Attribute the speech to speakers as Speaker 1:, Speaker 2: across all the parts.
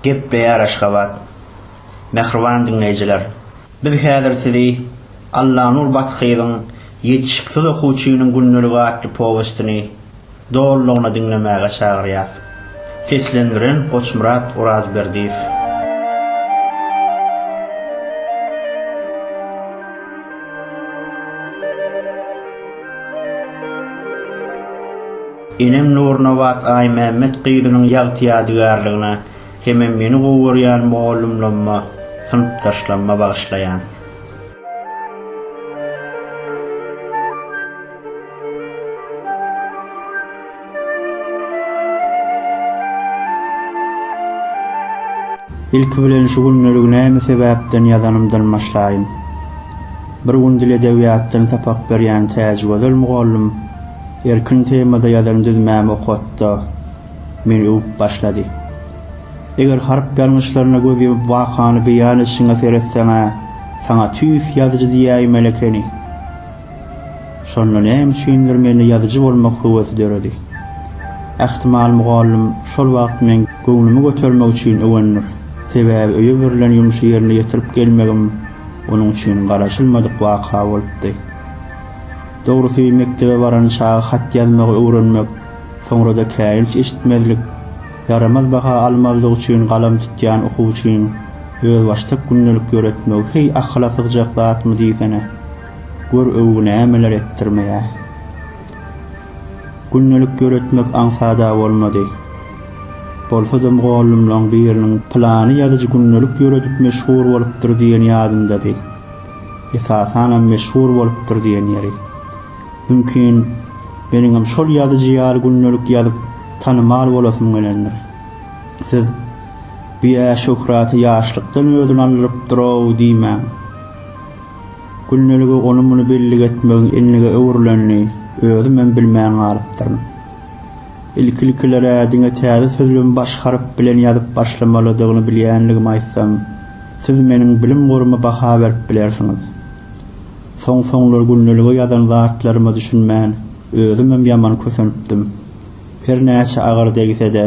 Speaker 1: Gepleýär Aşgabat. Mähriban diňleýjiler! Biz häzir sizi Allanur Bathyzyň Ýetişiksiz okuwçynyň gündeligi atly powestini dolulygyna diňlemäge çagyrýas. Seslendiren Goçmyrat Orazberdiýew. Enem Nurnabat Aýmämmet gyzynyň ýagty-ýadygärligine hemem meni gowy görýän mugallymlaryma, synpdaşlaryma bagyşlaýan. Ilki bilen şu gündelik näme sebäpden ýazanymdan başlaýyn. Bir gün dil-edebiýatdan sapak berýän Täjigözel mugallym Erkin temada ýazan düzmämi okatda meni öwüp başlady. Eger harp ýalňyşlaryna göz ýumup wakany beýan edişiňe seretseň-ä, saňa tüýs ýazyjy diýäýmeli ekeni. Şonda näme üçindir mende ýazyjy bolmak höwesi döredi. Ähtimal mugallym şol wagt meň göwnümi götermek üçin öwendir. Sebäbi öýe berlen ýumşy ýerine ýetirip gelmegim onuň üçin garaşylmadyk waka bolupdy. Dogrusy, mekdebe baran çaga hat ýazmagy öwrenmek, soňra-da käýinç eşitmezlik, ýaramaz baha almazlyk üçin galam tutýan okuwçyň özbaşdak gündelik ýöretmegi heý akyla sygjak zatmy diýsene. Gör öwgi nämeler etdirmeýär. Gündelik ýöretmek aňsat-a bolmady. Bolsa-da mugallymlaň biriniň pylany ýazyjy gündelik ýöredip meşhur bolupdyr diýeni ýadyndady. Esasanam meşhur bolupdyr diýen ýeri. Mümkin, meniňem şol ýazyjy ýaly gündelik ýazyp tanymal bolasym gelendir. Siz, Bu äşöhraty ýaşlykdan özüni aldyrypdyr-ow diýmäň. Gündelige ony-muny bellik etmegiň enlige öwrülenini özümem bilmän galypdyryn. Ilki-ilkiler-ä diňe täze sözlügimi baş harp bilen ýazyp başlamalydygyny bilýänligimi aýtsam, siz meniň bilim goryma baha berip bilersiňiz. Soň-soňlar gündelige ýazan zatlaryma düşünmän, özümem ýaman kösenipdim. Her näçe agyr degse-de,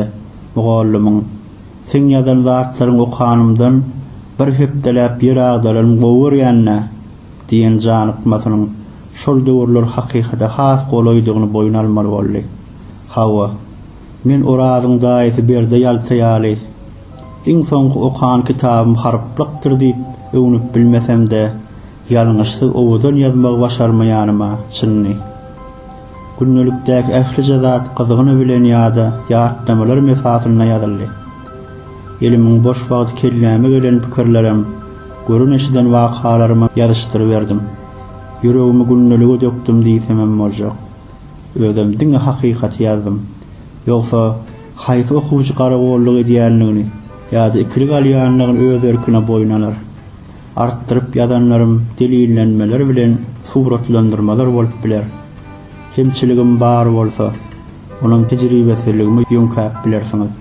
Speaker 1: mugallymyň, Seň ýazan zatlaryňy okanymdan, bir hepdeläp ýer agdalanym gowy görýän-dä! Diýen janykmasynyň şol döwürler hakykata has golaýdygyny boýun almaly boldy. Hawa, men Orazyň daýysy Berde ýalta ýaly, iň soňky okan kitabym harplykdyr diýip öwnüp bilmesem-de, ýalňyşsyz owadan ýazmagy başarmaýanyma çyndy. Gündelikdäki ählije zat gyzgyny bilen ýa-da ýatlamalarym esasynda ýazyldy. Elimiň boş wagty kelläme gelen pikirlerem, Gören-eşiden wakalarymy ýazyşdyryberdim. Ýüregimi gündelige dökdüm diýsemem boljak. Özem diňe hakykaty ýazdym. Ýogsa, haýsy okuwçy garagolluk edýändigini ýa-da ikilik alýandygyny öz erkine boýun alar. Artdyryp ýazanlarym delillenmeler bilen suratlandyrmalar bolup biler. Kemçiligim bar bolsa, onam tejribesizligimi ýöňkäp bilersiňiz.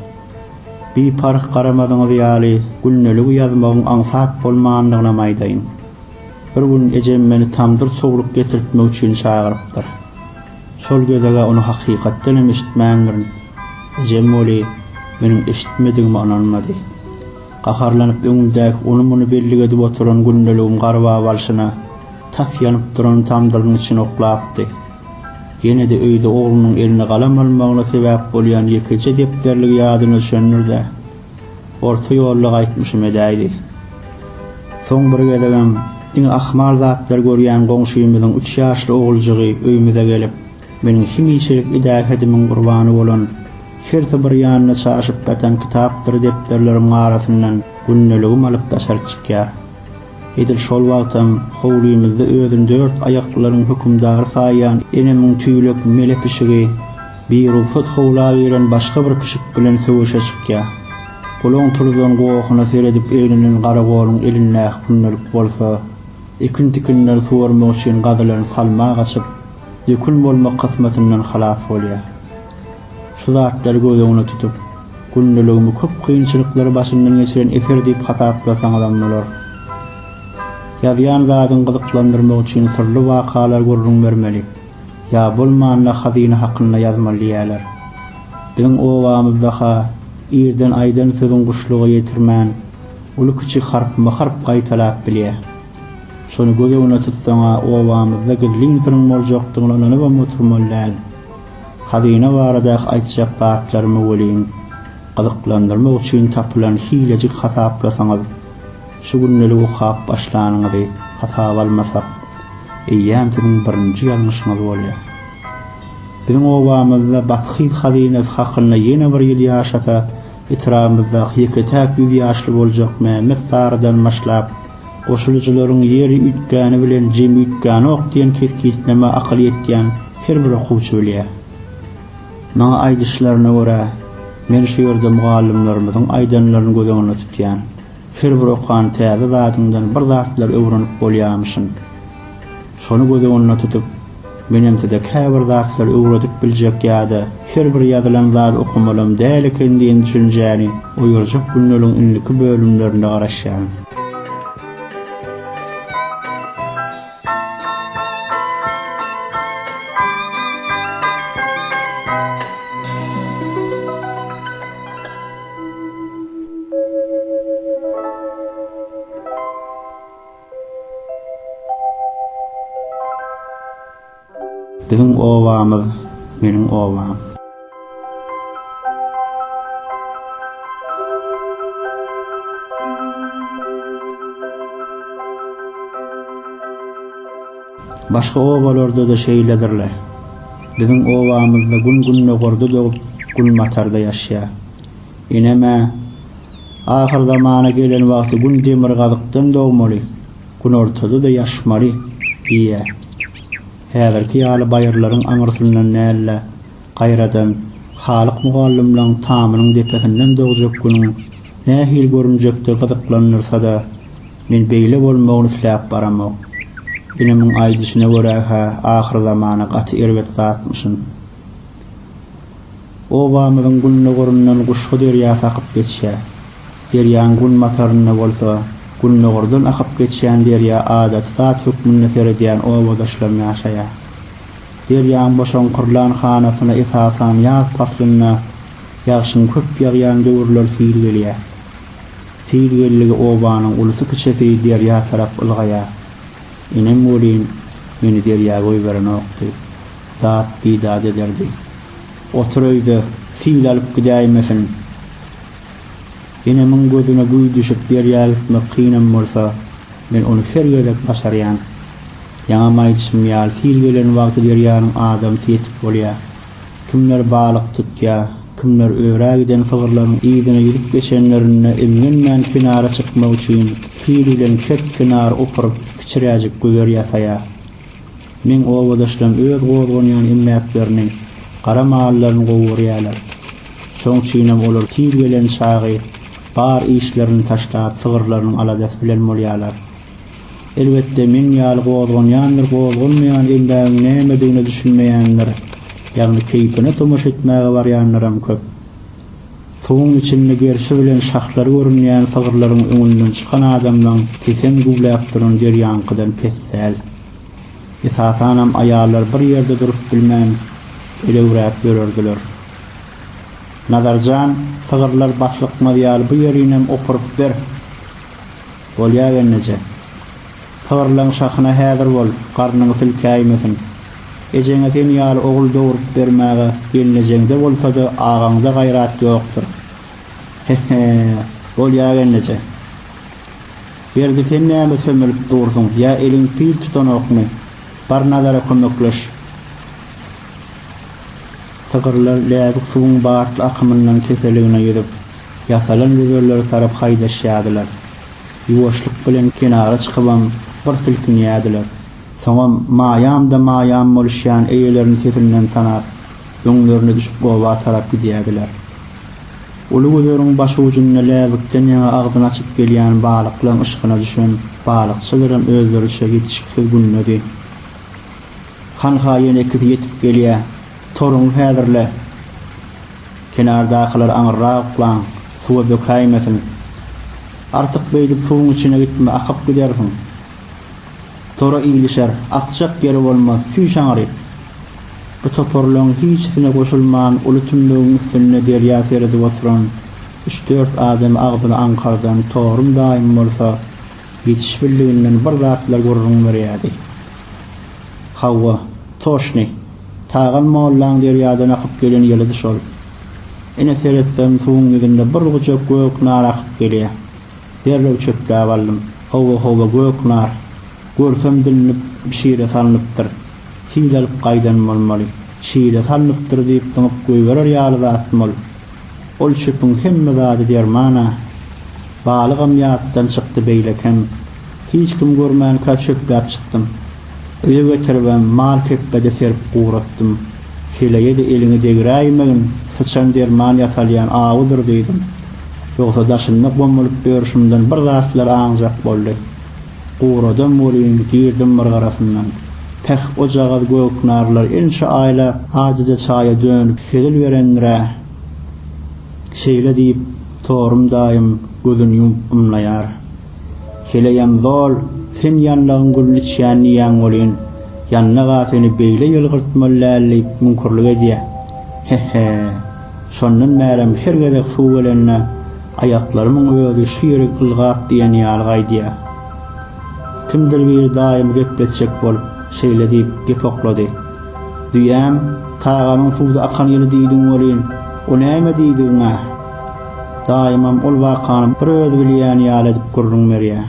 Speaker 1: Biparh garamadyňyz ýaly gündeligi ýazmagyň aňsat bolmandygynam aýdaýyn. Bir gün ejem meni tamdyr sowlup getirtmek üçin çagyrypdyr. Şol gezeg-ä ony hakykatdanam eşitmändirin. Ejem weli, meniň eşitmedigime ynanmady. Gaharlanyp öňümdäki ony-muny bellik edip oturan gündeligim garbap alşyna, tas ýanyp duran tamdyryň içine oklapdy. Ýene-de öýde oglunyň eline galam almagyna sebäp bolýan ýekeje depderligi ýadyna düşendir-de, orta ýolda gaýtmyşym edäýdi. Soň bir gezegem diňe ahmal zatlar görýän goňşymyzyň üç ýaşly oguljygy öýümize gelip, meniň hemişelik idähedimiň gurbany bolan, hersi bir ýanyna çaşyp ýatan kitapdyr depderlerimiň arasyndan gündeligim alyp daşaryk çykýar. Edil şol wagtam howlymyzda özüni dört aýaklylaryň hökümdary saýýan enemiň tüýlek mele pişigi birugsat howla giren başga bir pişik bilen söweşe çykýar. Gulaň turuzan gohuna seredip eglenen garagolyň elindäki gündelik bolsa ekin-tikinleri suwarmak üçin gazylan salma gaçyp, dökün bolmak kysmatyndan halas bolýar. Şu zatlary göz öňüne tutup, gündeligimi köp kynçylyklary başymdan geçiren eser diýip hasaplasaňyzam bolar. Ýazýan zadyňy gyzyklandyrmak üçin syrly wakalar gürrüň bermeli, ýa bolmanda hazyna hakynda ýazmaly diýýärler. Biziň obamyzda-ha irden aýdan sözüň guşluga ýetirmän, uly-kiçi harpma-harp gaýtalap bilýär. Şony göz öňüne tutsaň-a obamyzda gizlin syryň boljakdygyna ynanybam oturmaly däl. Hazyna baradaky aýtjak zatlarymy welin, gyzyklandyrmak üçin tapylan hilejik hasaplasaňyz, şu gündelik okap başlanyňyzy hasaba almasak, eýýäm siziň birinji ýalňyşyňyz bolýar. Biziň obamyzda Bathyz hazynasy hakynda ýene bir ýyl ýaşasa, etrabymyzdaky ýeke-täk ýüz ýaşly boljak Mämmet sarydan başlap, Goşulyjylaryň Ýeri üýtgäni bilen Jemi üýtgänok diýen kesgitleme akyl ýetýän her bir okuwçy bilýär. Maňa aýdyşlaryna görä, men şu ýerde mugallymlarymyzyň aýdanlaryny göz öňünde tutýan. Her bir okan täze zadyňdan bir zatlar öwrenip bolýamyşyn. Şony göz öňünde tutup, menem size käbir zatlary öwredip biljek ýa-da her bir ýazylan zady okamalam däl eken diýen düşünjäni oýarjak günleriň indiki bölümlerinde garaşýaryn. Biziň obamyz, meniň obam. Başga obalarda-da şeýledir-le. Biziň obamyzda gün gündogarda dogup, günbatarda ýaşýar. Enem-ä. Ahyr zamana gelen wagty Gün demirgazykdan dogmaly, günortada-da ýaşmaly diýýär. Häzirki ýaly baýyrlaryň aňyrsyndan däl-de, gaýradan Halyk mugallymlaň tamynyň depesinden dogjak günüň nähili görünjekdigi gyzyklandyrsa-da, men beýle bolmagyny isläp baramok. Inimiň aýdyşyna görä-hä ahyr zamana gaty erbet zatmyşyn. Obamyzyň gündogaryndan Guşgy derýasy akyp geçýär. Derýanyň günbatarynda bolsa gündogardan akyp geçýän derýa adaty zat hökmünde seredýän obadaşlarym ýaşaýar. Derýanyň boşaňkyrlan hanasyna esasan ýaz paslynda ýagşyň köp ýagýan döwürler sil gelýär. Sil geldigi obanyň ulusy-kiçisi derýa tarap ylgaýar. Enem welin, meni derýa goýberenokdy. dat-bidat ederdi. Otur öýde, sil alyp gidäýmesin. Enemiň gözüne güý düşüp derýa gitmek kynam bolsa, men ony her gezek başarýan. Ýaňam aýdyşym ýaly, sil gelen wagty derýanyň adamsy ýetik bolýa. Kimler balyk tutýa, kimler örä giden sygyrlaryň yzyna ýüzüp geçenlerinde imgenmän kenara çykmak üçin sil bilen kert kenary opuryp, kiçiräjik güzer ýasaýa. Meň obadaşlarym öz gozganýan emläklerini, gara mallaryny gowy görýärler. Şoň üçinem olar tiz gelen çagy bar işlerini taşlap sygyrlarynyň aladasy bilen bolýarlar. Elbetde, meň ýaly gozganýandyr gozganmaýan emlägiň nämedigine düşünmeýänler, ýagny keýpine tomaşa etmäge barýanlaram köp. Suwuň içinde gerşi bilen şahlary görünýän sygyrlaryň öňünden çykan adamlaň sesem güwläp duran derýaňkydan pes däl. Esasanam aýallar bir ýerde durup bilmän, elewräp ýörerdiler. Nazar jan, sygyrlar baslykmaz ýaly bu ýerinem opuryp ber. Bolýa gelneje. Tygrylaň şahyna häzir bol, garnyňy silkäýmesin. Ejeňe sen ýaly ogul dogrup bermäge gelnejeňde bolsada agaňda gaýrat ýokdur. He-he, bolýa gelneje. Berdi sen näme sömelip dursuň, ýa eliň pil tutanokmy? Bar Nazara kömekleş. Tygrylar läbik suwuň bartly akymyndan keseligine ýüzüp, ýasalan gözelleri tarap haýdaşýardylar. Ýuwaşlyk bilen kenara çykybam bir silkinýärdiler. Soňam Maýam-da-Maýam boluşýan eýelerini sesinden tanap, öňlerine düşüp oba tarap gidýärdiler. Uly gözegiň başujunda läbikden ýaňa agzyny açyp gelýän balyklaň yşkyna düşen balykçylaram özleriçe ýetişiksiz gündedi. Han-ha ýene ikisi ýetip gelýä. Toruňy häzirle! Kenardakylar aňyrrak uklaň, suwa bökäýmesin. Artyk beýdip suwuň içine gitme, akyp gidersiň. Tora ilişer, akjak ýeri bolmaz, süýş aňryk. Bu toparlaryň hiçisine goşulman uly tümmegiň üstünde derýa seredip oturan üç-dört adam agzyny aňkardan Torum daýym bolsa ýetişibildiginden bir zatlar gürrüň berýärdi. Hawa, toşny. Tagal mollaň derýadan akyp gelen ýylydy şol. Ine, seretsem, suwuň ýüzünde bir gujak gök nar akyp gelýär. Derrew çöpläp aldym. Howa-howa gök nar. Görsem bilnip, şire salnypdyr. Sil alyp gaýdan bolmaly. Şire salnypdyr diýip zyňyp goýberer ýaly zatmy ol? Ol çöpüň hemme zady derman-a. Balygam ýatdan çykdy, beýlekem. Hiç kim görmänkä çöpläp çykdym. Öýe getiribem, mal kepbede serip guratdym. Heleýe-de eliňi degräýmegin, syçan derman ýasalýan awudyr diýdim. Ýogsa daşynda gomulyp ýörşümden bir zatlar aňjak boldy. Guradam welin, girdim myrgarasyndan. Päh, ojagaz göknarlar ençe aýlap adyja çaýa dönüp hezil berendir-ä! Şeýle diýip, Torum daýym gözün ýumup ymlaýar. Heleýem zol, sen ýanlagyň gülüni içýän diýýäň welin, ýanlag-a seni beýle ýylgyrtmaly däl diýip müňkürlik edýä. He-he. Şondan bärem her gezek suw gelende, aýaklarymyň özi şu ýeri ylgap diýen ýaly gaýdýa. Kimdir biri daýymy gepletjek bolup, şeýle diýip, gep oklady. Düýäm, tagamyň suwda akan ýyly diýdiň welin, o näme diýdigiň-ä? Daýymam ol wakany bir özi bilýän ýaly edip gürrüň berýä.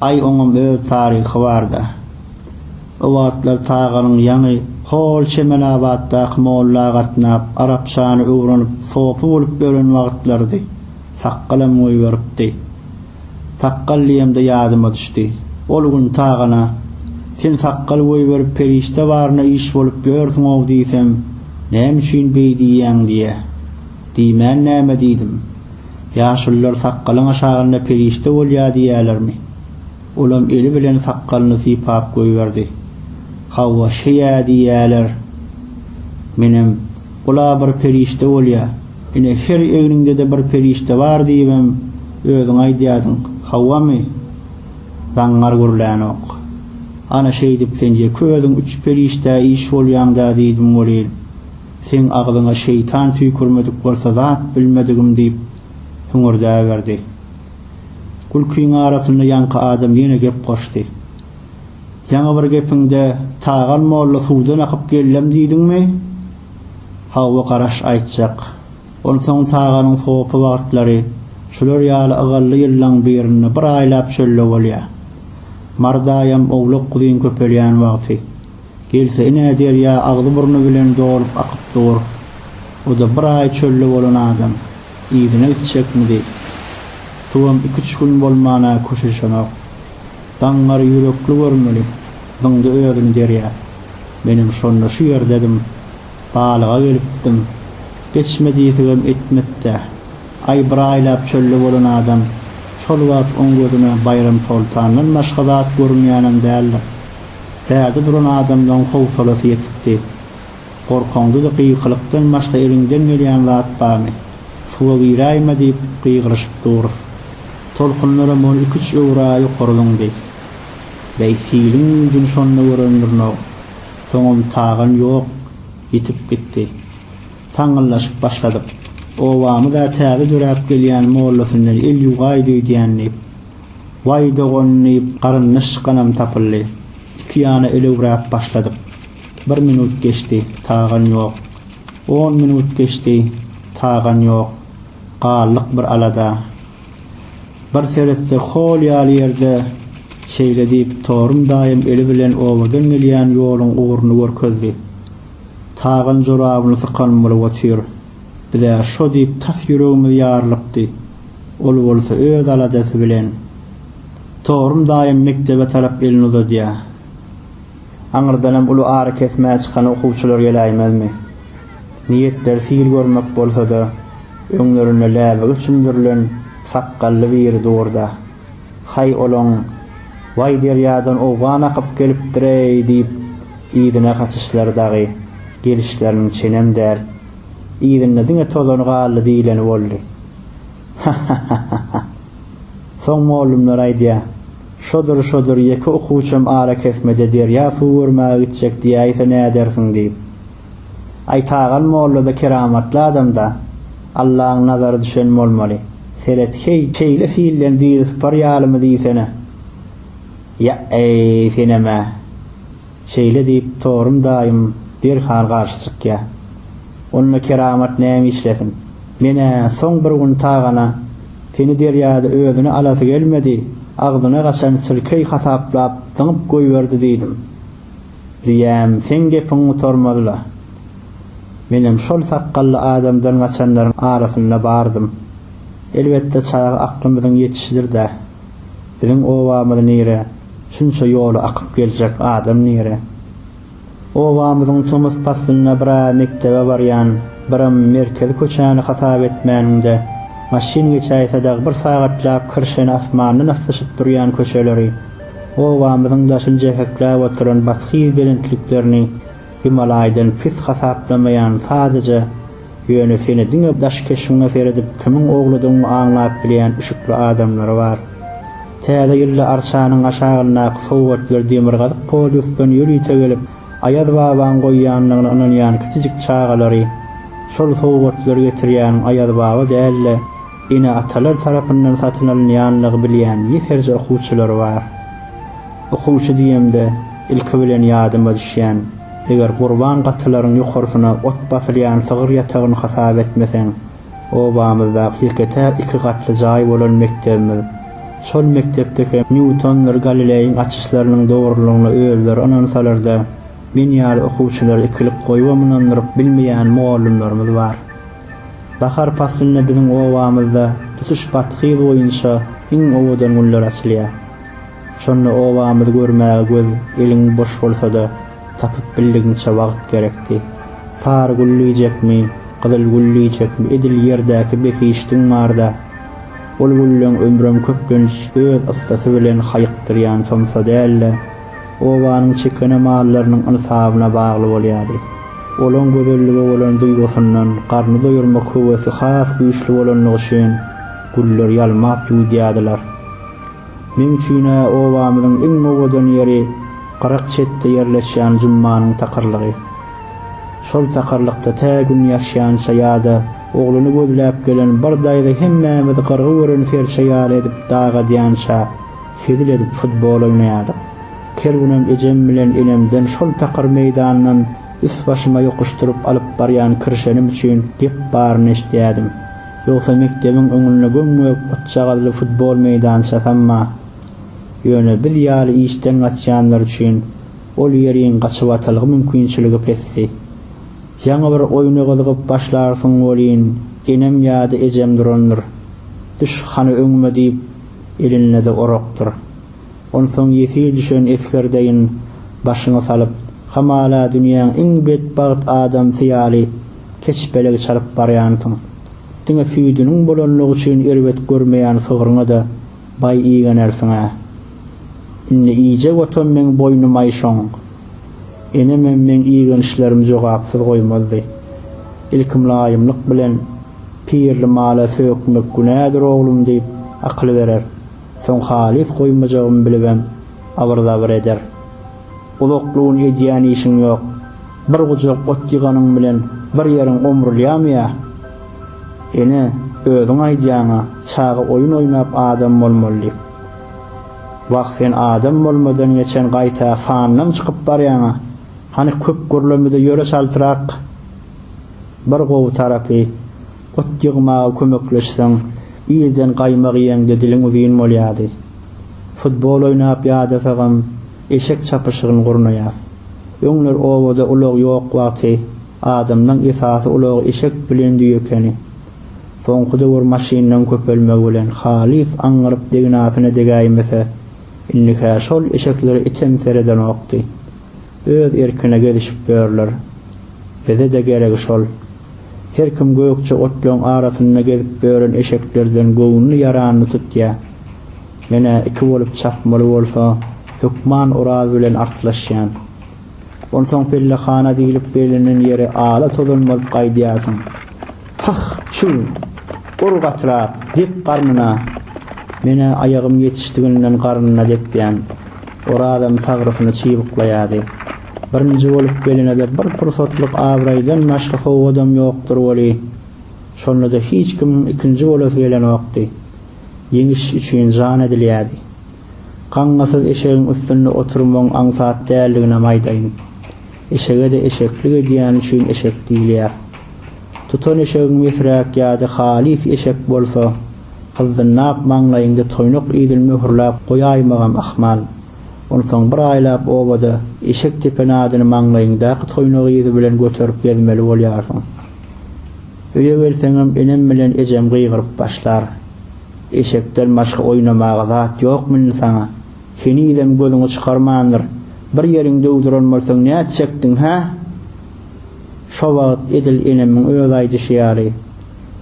Speaker 1: Aý, oňam öz taryhy bar-da. O wagtlar Taganyň ýaňy hol Çemelabatdaky molla gatnap, arapçany öwrenip, sopy bolup ýören wagtlarydy. Sakgalam goýberipdi. Sakgal diýemde ýadyma düşdi. Ol gün Tagana, Sen sakgal goýberip perişde baryna iş bolup ýörsüň-ow diýsem, Näme üçin beý diýýäň diýýä. Diýmän näme diýdim? Ýaşulylar sakgalyň aşagynda perişde bolýa diýýälermi? Olam eli bilen sakgalyny sypap goýberdi. Hawa, şeýä diýýäler. Menem, Ol-a bir perişde bolýa. Ine, her egniňde-de bir perişde bar diýibem, özüň aýdýadyň. Hawamy? Zaňňar gürlänok. Ana, şeýdip sen ýeke özüň üç perişdä iş bolýaň-da diýdim welin. Seň agzyňa şeýtan tüýkürmedik bolsa zat bilmedigim diýip, hüňürdäberdi. Gülkiň arasynda ýaňky adam ýene gep goşdy. Ýaňy bir gepiňde Tagan molla suwdan akyp gellem diýdiňmi? Hawa, garaş aýtjak. Onsoň Taganyň sopy wagtlary şular ýaly ygally ýyllaň birinde bir aýlap çölde bolýa. Mart aýam owlak-guzyn köpelýän wagty. Gelse ine derýa agzy-burny bilen dolup akyp dur. O-da bir aý çölde bolan adam, yzyna gitjekmidi? Suwam iki-üç gün bolman-a köşeşenok. Daňňar ýürekli görmeli, zyňdy özüni derýa. Menem şonda şu ýerdedim. Balyga gelipdim. Geçme diýsegem etmekdä. Aý bir aýlap çölde bolan adam, şol wagt oň gözüne Baýramsoltandan başga zat görünýänem däldir. Bärde duran adamlaň howsalasy ýetikdi. Gorkaňda-da gyýkylykdan başga eliňden gelýän zat barmy? Suwa giräýme diýip gygyryşyp durus. Tolkunlaram on iki-üç öwra ýokary zyňdy. Bäý, siliň güýjüni şonda görendürün-ow. Soňam tagan ýok, ýitip gitdi. Saňňyldaşyp başladyk. Obamyz-ä täze döräp gelýän mollasyndan el ýuwaýdy öýdýän diýip. Waý dogan diýip garyndaş çykanam tapyldy. Iki ýana elewräp başladyk. Bir minut geçdi, tagan ýok. On minut geçdi, tagan ýok. Galdyk bir alada. Bir seretsek hol ýaly ýerde şeýle diýip Torum daýym eli bilen obadan gelýän ýoluň ugruny görkezdi. Tagan jorabyny sykan bolup otyr. Biz-ä şo diýip tas ýüregimiz ýarylypdy. Ol bolsa öz aladasy bilen, Torum daýym mekdebe tarap elini uzadýa. Aňyrdanam uly arakesmä çykan okuwçylar geläýmezmi? Niýetleri sil görmek bolsa-da, öňlerinde läbigi çümdürilen sakgally biri dur-da. Haý olaň, waý derýadan owgan akyp gelipdir-eý diýip, yzyna gaçyşlary dagy, gelişleriniň çenem däl. Yzynda diňe tozany galdy diýleni boldy. Ha-ha-ha-ha-ha! Soň mollumlar aýdýar, şodur-şodur ýeke okuwçam arakesmede derýa suw görmäge gitjek diýäýse nädersiň diýip. Aýtagan mollada keramatly adamda Allaň nazary düşen bolmaly. Seret heý, şeýle silden diri sypar ýalymy diýsene. Ýa-eý, senem-ä! Şeýle diýip, Torum daýym derhal garşy çykýa. Onda keramat näme işlesin? Men-ä soň bir gün tagana seni derýada özüne alasy gelmedi, agzyna gaçan sülkeý hasaplap zyňyp goýberdi diýdim. Diýýäm, seň gepiň gutarmaz-la. Menem şol sakgally adamdan gaçanlaryň arasynda bardym. Elbetde, çaga aklymyzyň ýetişidir-dä. Biziň obamyz nire, şunça ýoly akyp geljek adam nire? Obamyzyň tomus paslynda bir-ä mekdebe barýan, biram merkezi köçäni hasap etmäniňde, maşyn geçäýse dagy bir sagatlap kirşeni asmandan aslyşyp durýan köçeleri, Obamyzyň daşyny jepekläp oturan bathyz belentliklerini Gimalaýdan pis hasaplamaýan sadaja, ýöne seni diňe daş keşbiňe seredip kimiň ogludygyňy aňlap bilýän üşükli adamlary bar. Täze ýylda arçanyň aşagyndaky sowgatlar demirgazyk polýusdan ýörite gelip, Aýaz babaň goýýandygyna ynanýan kiçijik çagalary, şol sowgatlary getirýäniň Aýaz baba däl-de, ene-atalar tarapyndan satyn alynýanlygy bilýän ýeserje okuwçylar bar. Okuwçy diýemde, ilki bilen ýadyma düşýän, eger gurban gatylaryň ýokarsyna ot basylýan sygyr ýatagyny hasap etmeseň, obamyzdaky ýeke-täk iki gatly jaý bolan mekdebimiz. Şol mekdepde hem Nýutondyr Galileýiň açyşlarynyň dogrulygyna özleri ynansalar-da, men ýaly okuwçylary ikilik goýubam ynandyryp bilmeýän mugallymlarymyz bar. Bahar paslynda biziň obamyzda tutuş Bathy gyz boýunça iň owadan güller açylýar. Şonda obamyzy görmäge göz eliň boş bolsa-da, tapyp bildigiňçe wagt gerekdi. Sary gül diýjekmi, gyzyl gül diýjekmi edil ýerdäki behişdiň barda. Ol gülleň ömrem köplenç öz yssysy bilen haýykdyrýan tomsa däl-de, obanyň çekene mallarynyň ynsabyna bagly bolýardy. Olaň gözellige bolan duýgusyndan garny doýurmak höwesi has güýçli bolanlygy üçin güller ýalmap ýuwudýardylar. Meň üçin-ä obamyzyň iň owadan ýeri gyrak çetde ýerleşýän Jummanyň takyrlygy. Şol takyrlykda tä gün ýaşýança ýa-da ogluny gözläp gelen bir daýza hemmämizi gyrgy gören serçe ýaly edip dag edýänçä, Hezil edip futbol oýnaýardyk. Her günem ejem bilen enemden şol takyr meýdandan üst-başyma ýokuşdyryp alyp barýan kirşenim üçin gep baryny eşidýärdim. Ýogsa mekdebiň öňünde göm-gök otjagazly futbol meýdançasamma. Ýöne biz ýaly işden gaçýanlar üçin ol ýeriň gaçybatalga mümkinçiligi pesdi. Ýaňy bir oýna gyzygyp başlarsyň welin, enem ýa-da ejem durandyr. Düş, hany öňüme diýip, elinde-de orakdyr. Onsoň ýesir düşen esger deýin başyňy salyp, hamala dünýäň iň betbagt adamsy ýaly keçpelegi çalyp barýansyň. Diňe süýdüniň bolanlygy üçin erbet görmeýän sygryňa-da baý igenersiň-ä. Indi iýjek otam meň boýnumaý şoň. Enemem meň igenişlerimi jogapsyz goýmazdy. Ilki mylaýymlyk bilen, Pirli mala sökmek günädir oglum diýip, akyl berer. Soň halys goýmajagymy bilibem, abyr-zabyr eder. Uzakly gün edýän işiň ýok. Bir gujak ot ýyganyň bilen bir ýeriň omrulýamy ýa? Ene, özüň aýdýaň-a, çaga oýun oýnap adam bolmaly diýip. Wah sen adam bolmadan geçen gaýta fandan çykyp barýaňa hany köp gürlemede ýöre çaltrak bir gowy tarapy ot ýygmaga kömekleşseň irden gaýmak iýeňde diliň uzyn bolýady futbol oýnap ýadasagam eşek çapyşygyn gurnaýas öňler obada ulag ýok wagty adamlaň esasy ulagy eşek bilen düýe ekeni Soňky döwür maşynlaryň köpelmegi bilen halys aňňyryp degnasyna degäýmese, indi-hä şol eşeklere item seredenokdy. Öz erkine gezişip ýörler. Bize-de geregi şol. Her kim gökje otlaryň arasynda gezip ýören eşeklerden göwnüni ýaranyny tutýa. Men-ä iki bolup çapmaly bolsa, hökman Oraz bilen artlaşýan. Onsoň pellehana diýlip bellenen ýere ala tozan bolup gaýdýarsyň. Hah, çüw! Ur gatyrak, dep garnyna! Men-ä aýagym ýetişdiginden garnyna depýän. Orazam sagrysyny çybyklaýardy. Birinji bolup gelene-de bir pursatlyk abraýdan başga sowgadam ýokdur weli, şonda-da hiç kimiň ikinji bolasy gelenokdy. Ýeňiş üçin jan edilýärdi. Gaňňasyz eşegiň üstünde oturmagyň aňsat däldiginem aýdaýyn. Eşege-de eşeklik edýäni üçin eşek diýilýär. Tutan eşegiň mesräk ýa-da halys eşek bolsa, gyzdynnap maňlaýyňda toýnak idil möhürläp goýaýmagam ahmal. Onsoň bir aýlap obada eşek tepen adyny maňlaýyňdaky toýnak yzy bilen göterip gezmeli bolýarsyň. Öýe gelseňem enem bilen ejem gygyryp başlar. Eşekden başga oýnamaga zat ýokmy indi saňa? Henizem gözüňi çykarmandyr. Bir ýeriňi döwdüren bolsaň nätjekdiň, hä? Şo wagt edil enemiň öz aýdyşy ýaly,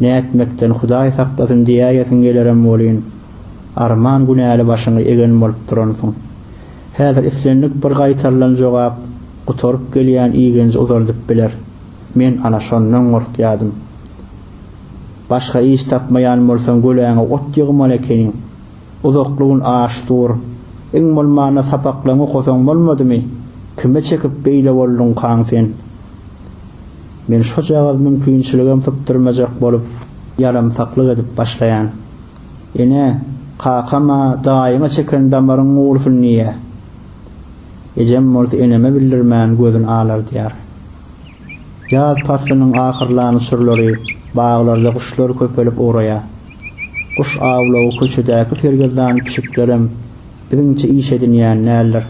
Speaker 1: Nätmekden Hudaý saklasyn diýäýesiň gelerem welin, arman günäli başyňy egen bolup duransyň. Häzir islendik bir gaýtarylan jogap gutaryp gelýän igenji uzaldyp biler. Men ana şondan gorkýadym. Başga iş tapmaýan bolsaň göläňe ot ýygmaly ekeniň. Uzakly gün aç dur. Iň bolmanda sapaklaryňy okasaň bolmadymy? Kime çekip beýle bolduňkaň sen? Men şojagaz mümkinçiligem sypdyrmajak bolup, ýaramsaklyk edip başlaýan. Ene, kakam-a daýyňa çeken damaryň gursun diýýä. Ejem bolsa eneme bildirmän gözüni alardýar. Ýaz paslynyň ahyrlan uçurlary baglarda guşlar köpelip ugraýar. Guş awlagy köçedäki sergezdan pişiklerem biziňçe iş edinýän däldir.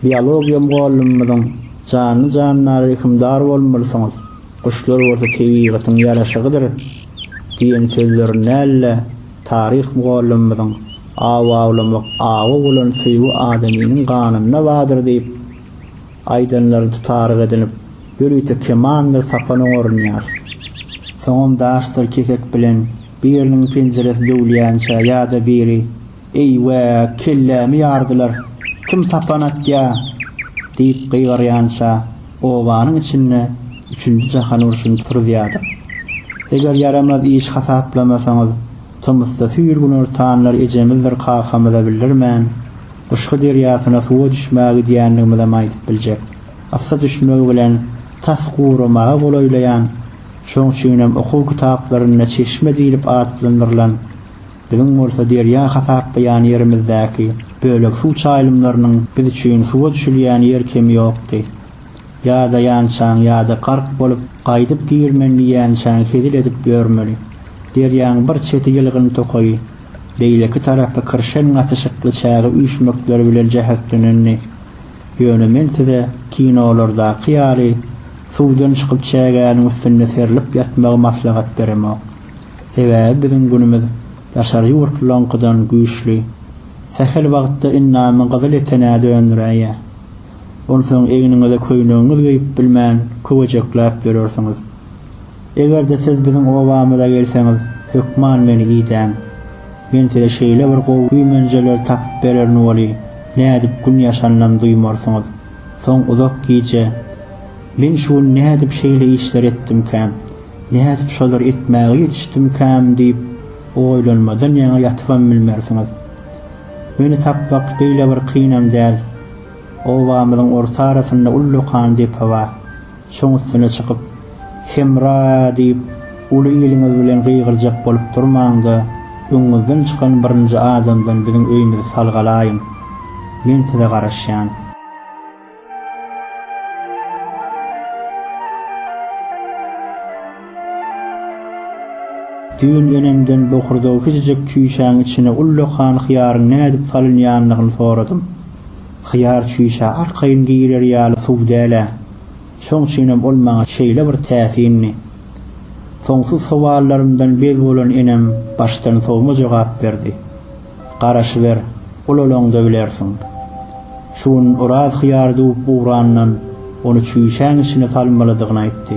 Speaker 1: Biologiýa mugallymymyzyň Janly-jandara rehimdar bolmalysyňyz, guşlar bolsa tebigatyň ýaraşygydyr diýen sözlerini näl-le, Taryh mugallymymyzyň Aw awlamak awa bolan söýgi adamynyň ganynda bardyr diýip, aýdanlaryny tutaryk edinip, ýörite kemandyr sapan oňarynýarys. Soňam daşdyr kesek bilen biriniň penjiresi döwülýänçä ýa-da biri, Eý-we, kellämi ýardylar, kim sapan atýa? diýip gygyrýança, Obanyň içinde üçünji jahan urşuny turuzýardyk. Eger ýaramaz iş hasaplamasaňyz, tomusda süýrgüner tanlar ejemizdir kakamyza bildirmän, Gyşgy derýasyna suwa düşmäge gidýändigimizem aýdyp biljek. Yssy düşmegi bilen tas guramaga golaýlaýan, şoň üçinem okuw kitaplarynda çeşme diýlip atlandyrylan, Biziň bolsa derýa hasaplaýan ýerimizdäki bölek suw çaýlymlarynyň biz üçin suwa düşülýän ýer kemi ýokdy. Ýadaýançaň ýa-da gark bolup, gaýdyp girmen diýýänçäň hezil edip ýörmeli. Derýaň bir çeti ýylgyn tokaýy, beýleki tarapy kirşen gatyşykly çäge üýşmekleri bilen jäheklenendi. Ýöne men size kinolardaky ýaly suwdan çykyp çägäniň üstünde serlip ýatmagy maslahat beremok. Sebäbi biziň günümiz daşary ýurtlylaryňkydan güýçli. Sähel wagtda indamy gyzyl etenä döndüräýýär. Onsoň egniňize köýnegiňiz geýip bilmän köwejekläp ýörersiňiz. Eger-de siz biziň obamyza gelseňiz, hökman meni idäň. Men size şeýle bir gowy güýmenjeleri tapyp bererin weli, nädip gün ýaşanynam duýmarsyňyz. Soň uzak gije, Men şu gün nädip şeýle işleri etdimkäm? Nädip şolary etmäge ýetişdimkäm diýip, oýlanmadan ýaňa ýatybam bilmersiňiz. Meni tapmak beýle bir kynam däl. Obamyzyň orta arasynda ullakan depe bar. Şoň üstüne çykyp, Hemra! diýip, uly iliňiz bilen gygyrjak bolup durmaň-da, öňüňizden çykan birinji adamdan biziň öýümizi salgalaýyň. Men size garaşýan. Düýn enemden bokurdagy kiçijek çüýşäň içine ullakan hyýaryň nädip salynýandygyny soradym. Hyýar çüýşä arkaýyn girer ýaly suw däl-ä. Şoň üçinem ol maňa şeýle bir täsindi. Soňsuz sowallarymdan bez bolan enem başdan sowma jogap berdi. Garaşyber, ulalaňda bilersiň. Şu gün Oraz hyýar düwüp ugrandan, ony çüýşäň içine salmalydygyny aýtdy.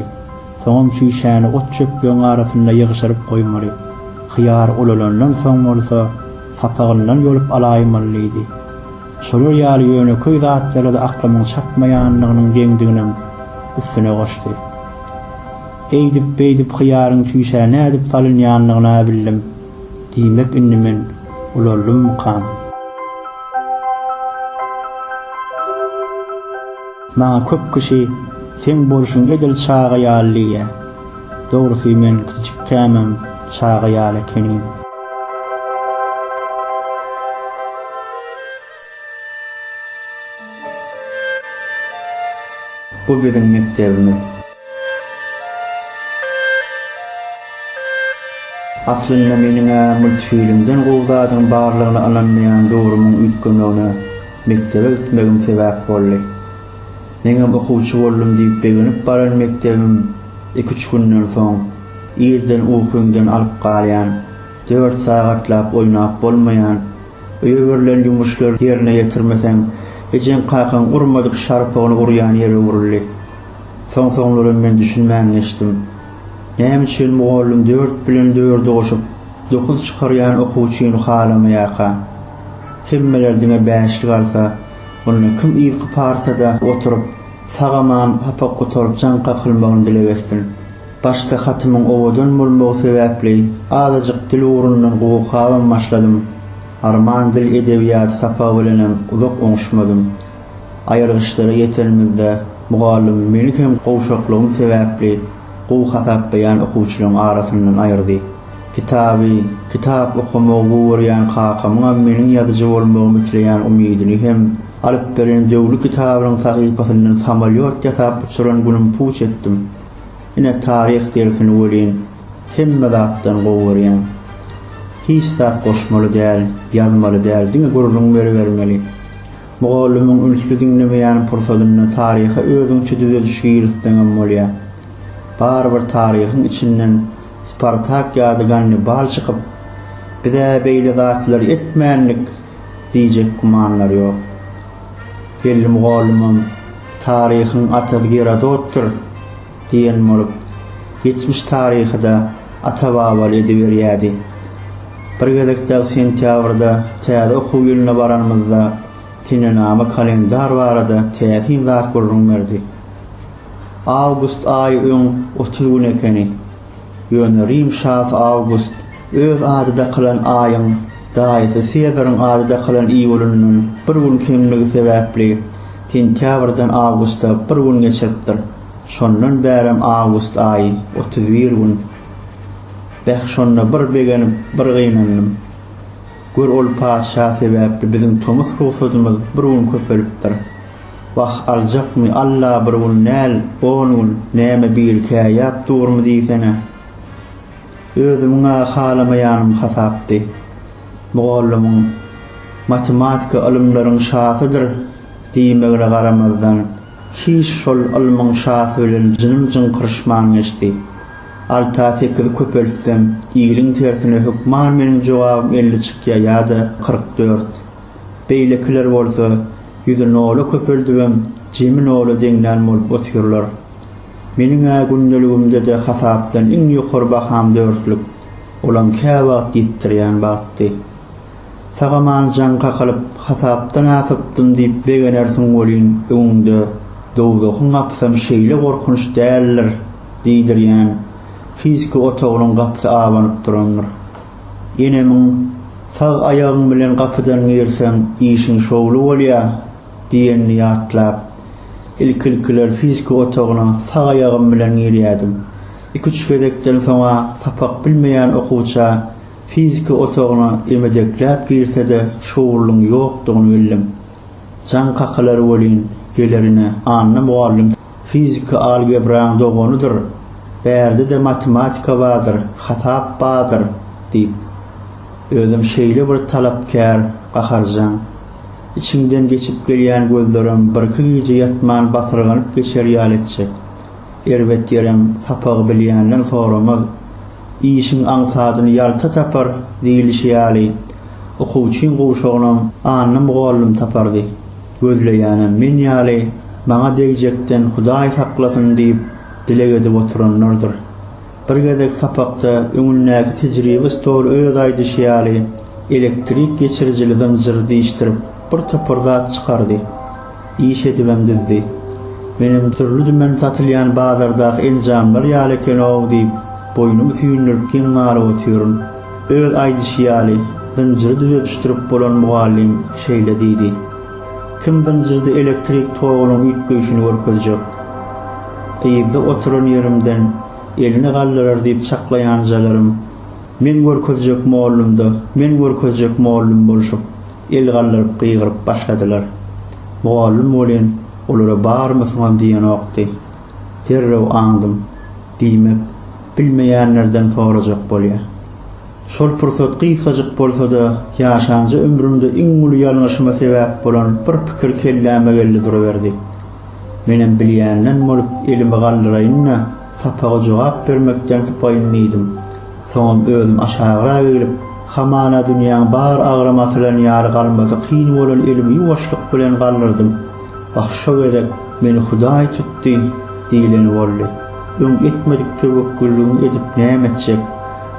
Speaker 1: Soňam çüýşäni ot-çöplegiň arasynda ýygyşyryp goýmaly. Hyýar ulalandan soň bolsa, sapagyndan ýolup alaýmaly diýdi. Şolar ýaly ýönekeý zatlara-da aklymyň çatmaýandygynyň geňdiginem üstüne goşdy. Eýdip-beýdip hyýaryň çüýşä nädip salynýandygyny-ä bildim. Diýmek indi men ulaldymmykam? Maňa köp kişi seň bolşuň edil çaga ýaly diýýär. Dogrusy men kiçikämem çaga ýaly ekenim. Bu biziň mekdebimiz. Aslynda meniň-ä multfilmden gowy zadyň barlygyna ynanmaýan dogrumyň üýtgemegine mekdebe gitmegim sebäp boldy. Meňem okuwçy boldum diýip begenip baran mekdebim iki-üç günden soň, Irden ukyňdan alyp galýan, dört sagatlap oýnap bolmaýan, Öýeberilen ýumuşlary ýerine ýetirmeseň, ejeň-kakaň urmadyk şarpygyny urýan ýere öwrüldi. Soň-soňlaram men düşünmän geçdim. Näme üçin mugallym dört bilen dördi goşup, dokuz çykarýan okuwçyny halamaýarka? Hemmeler diňe bäşlik alsa, onda kim yzky partada oturyp, sag-aman sapak gutaryp jaň kakylmagyny dileg etsin? Başda hatymyň owadan bolmagy sebäpli azajyk dil ugrundan gowy-kabam başladym. Arman dil edebiýaty sapagy bilenem uzak oňuşmadym. Aýyrgyçlara ýetenimizde mugallymym meni hem gowşaklygym sebäpli gowy hasaplaýan okuwçylaryň arasyndan aýyrdy. Kitaby, kitap okamagy gowy görýän kakamyňam meniň ýazyjy bolmagymy isleýän umydyny hem alyp beren Döwli kitabynyň sahypasyndan samolýot ýasap uçuran günüm puç etdim. Ine taryh dersini welin hemme zatdan gowy görýän. Hiç zat goşmaly däl, ýazmaly däl, diňe gürrüň beribermeli. Mugallymyň ünsli diňlemeýän pursadynda taryha özüňçe düzediş girizseňem bolýar. Barybir taryhyň içinden Spartak ýa-da Gannibal çykyp, Biz-ä beýle zatlary etmändik! diýjek gümanlar ýok. Belli mugallymam Taryhyň atasy Gerodotdyr diýen bolup, geçmiş taryhy-da ata-babaly ediberýärdi. Bir gezek dagy sentýabrda täze okuw ýylyna baranymyzda senenama kalendar barada täsin zat gürrüň berdi. Awgust aýy öň otuz gün ekeni. Ýöne Rim şasy Awgust öz ady dakylan aýyň daýysy Sezaryň ady dakylan iý bolanyndan bir gün kemligi sebäpli, Sentýabrdan awgusta bir gün geçiripdir. Şondan bärem awgust aýy otuz bir gün. Beh, şonda bir begenip, bir gynandym. Gör, ol patyşa sebäpli biziň tomus rugsadymyz bir gün köpelipdir. Wah, aljakmy, Alla, bir gün däl, on gün, näme, birikää ýap durmy diýsene. Özümiň-ä halamaýanym hasapdy. Mugallymyň Matematika ylymlaryň şasydyr diýmegine garamazdan, hiç şol ylmyň şasy bilen jynym jyňkyryşman geçdi. Alta sekizi köpeltsem, iliň tersine hökman meniň jogabym elli çykýar ýa-da kyrk dört. Beýlekiler bolsa, ýüzi nola köpeldibem, jemi nola deňlän bolup otyrlar. Meniň-ä gündeligimde-de hasapdan iň ýokary baham dörtlük, olam käwagt ýitdirýän batdy. Sag-aman jaň kakalyp, hasapdan asypdym diýip begenersiň welin, öňüňde dowzahyň gapysam şeýle gorkunç däldir diýdirýän fiziki otagynyň gapysy abanyp durandyr. Enemiň, Sag aýagyň bilen gapydan girseň, işiň şowly bolýar. diýenini ýatlap, ilki-ilkiler fizika otagyna sag aýagym bilen girýärdim. Iki-üç gezekden soň-a sapak bilmeýän okuwça fizika otagyna emedekläp girse-de şowlulygyň ýokdugyny bildim. Jaň kakalary welin, gelerine, Anna mugallym, fizika algebraň doganydyr, bärde-de matematika bardyr, hasap bardyr diýip. Özem şeýle bir talapkär, gaharjaň. Içiňden geçip gelýän gözlerem birki gije ýatman basyrganyp geçer ýaly etjek. Erbet ýerem sapagy bilýänden soramaz. Işiň aňsadyny ýalta tapar diýlişi ýaly, okuwçyň gowşagynam Anna mugallym tapardy. Gözleýänem men ýaly maňa degjekden Hudaý saklasyn diýip dileg edip oturanlardyr. Bir gezek sapakda öňündäki tejribe stoly öz aýdyşy ýaly elektrik geçirijili zynjyry diýişdirip, bir topar zat çykardy. Iş edibem düzdi. Menem dürli-dümen satylýan bazardaky enjamlar ýaly eken-ow diýip, boýnumy süýndürip geň galyp otyryn. Öz aýdyşy ýaly, zynjyry düzedişdirip bolan mugallym şeýle diýdi. Kim zynjyrdy elektrik togunyň üýtgeýşini görkezjek? Yzda oturan ýerimden elini galdyrar diýip çaklaýanjalarym Men görkezjek mollumda, men görkezjek mollum bolşup, el galdyryp gygyryp başladylar. Mugallym welin olara barymysyňam diýenokdy. Derrew aňdym. Diýmek, bilmeýänlerden sorajak bolýa. Şol pursat gysgajyk bolsa-da, ýaşanja ömrümde iň uly ýalňyşyma sebäp bolan bir pikir kelläme geldi duruberdi. Menem bilýänden bolup elimi galdyraýyn-da, sapaga jogap bermekden sypaýyn diýdim. Soňam özüm aşagyrak eglip, hamala dünýäň bar agram asylan ýaly galmasy kyn bolan elimi ýuwaşlyk bilen galdyrdym. Wah, şo gezek meni Hudaý tutdy diýleni boldy. Öň etmedik töwekgülligiňi edip näme etjek?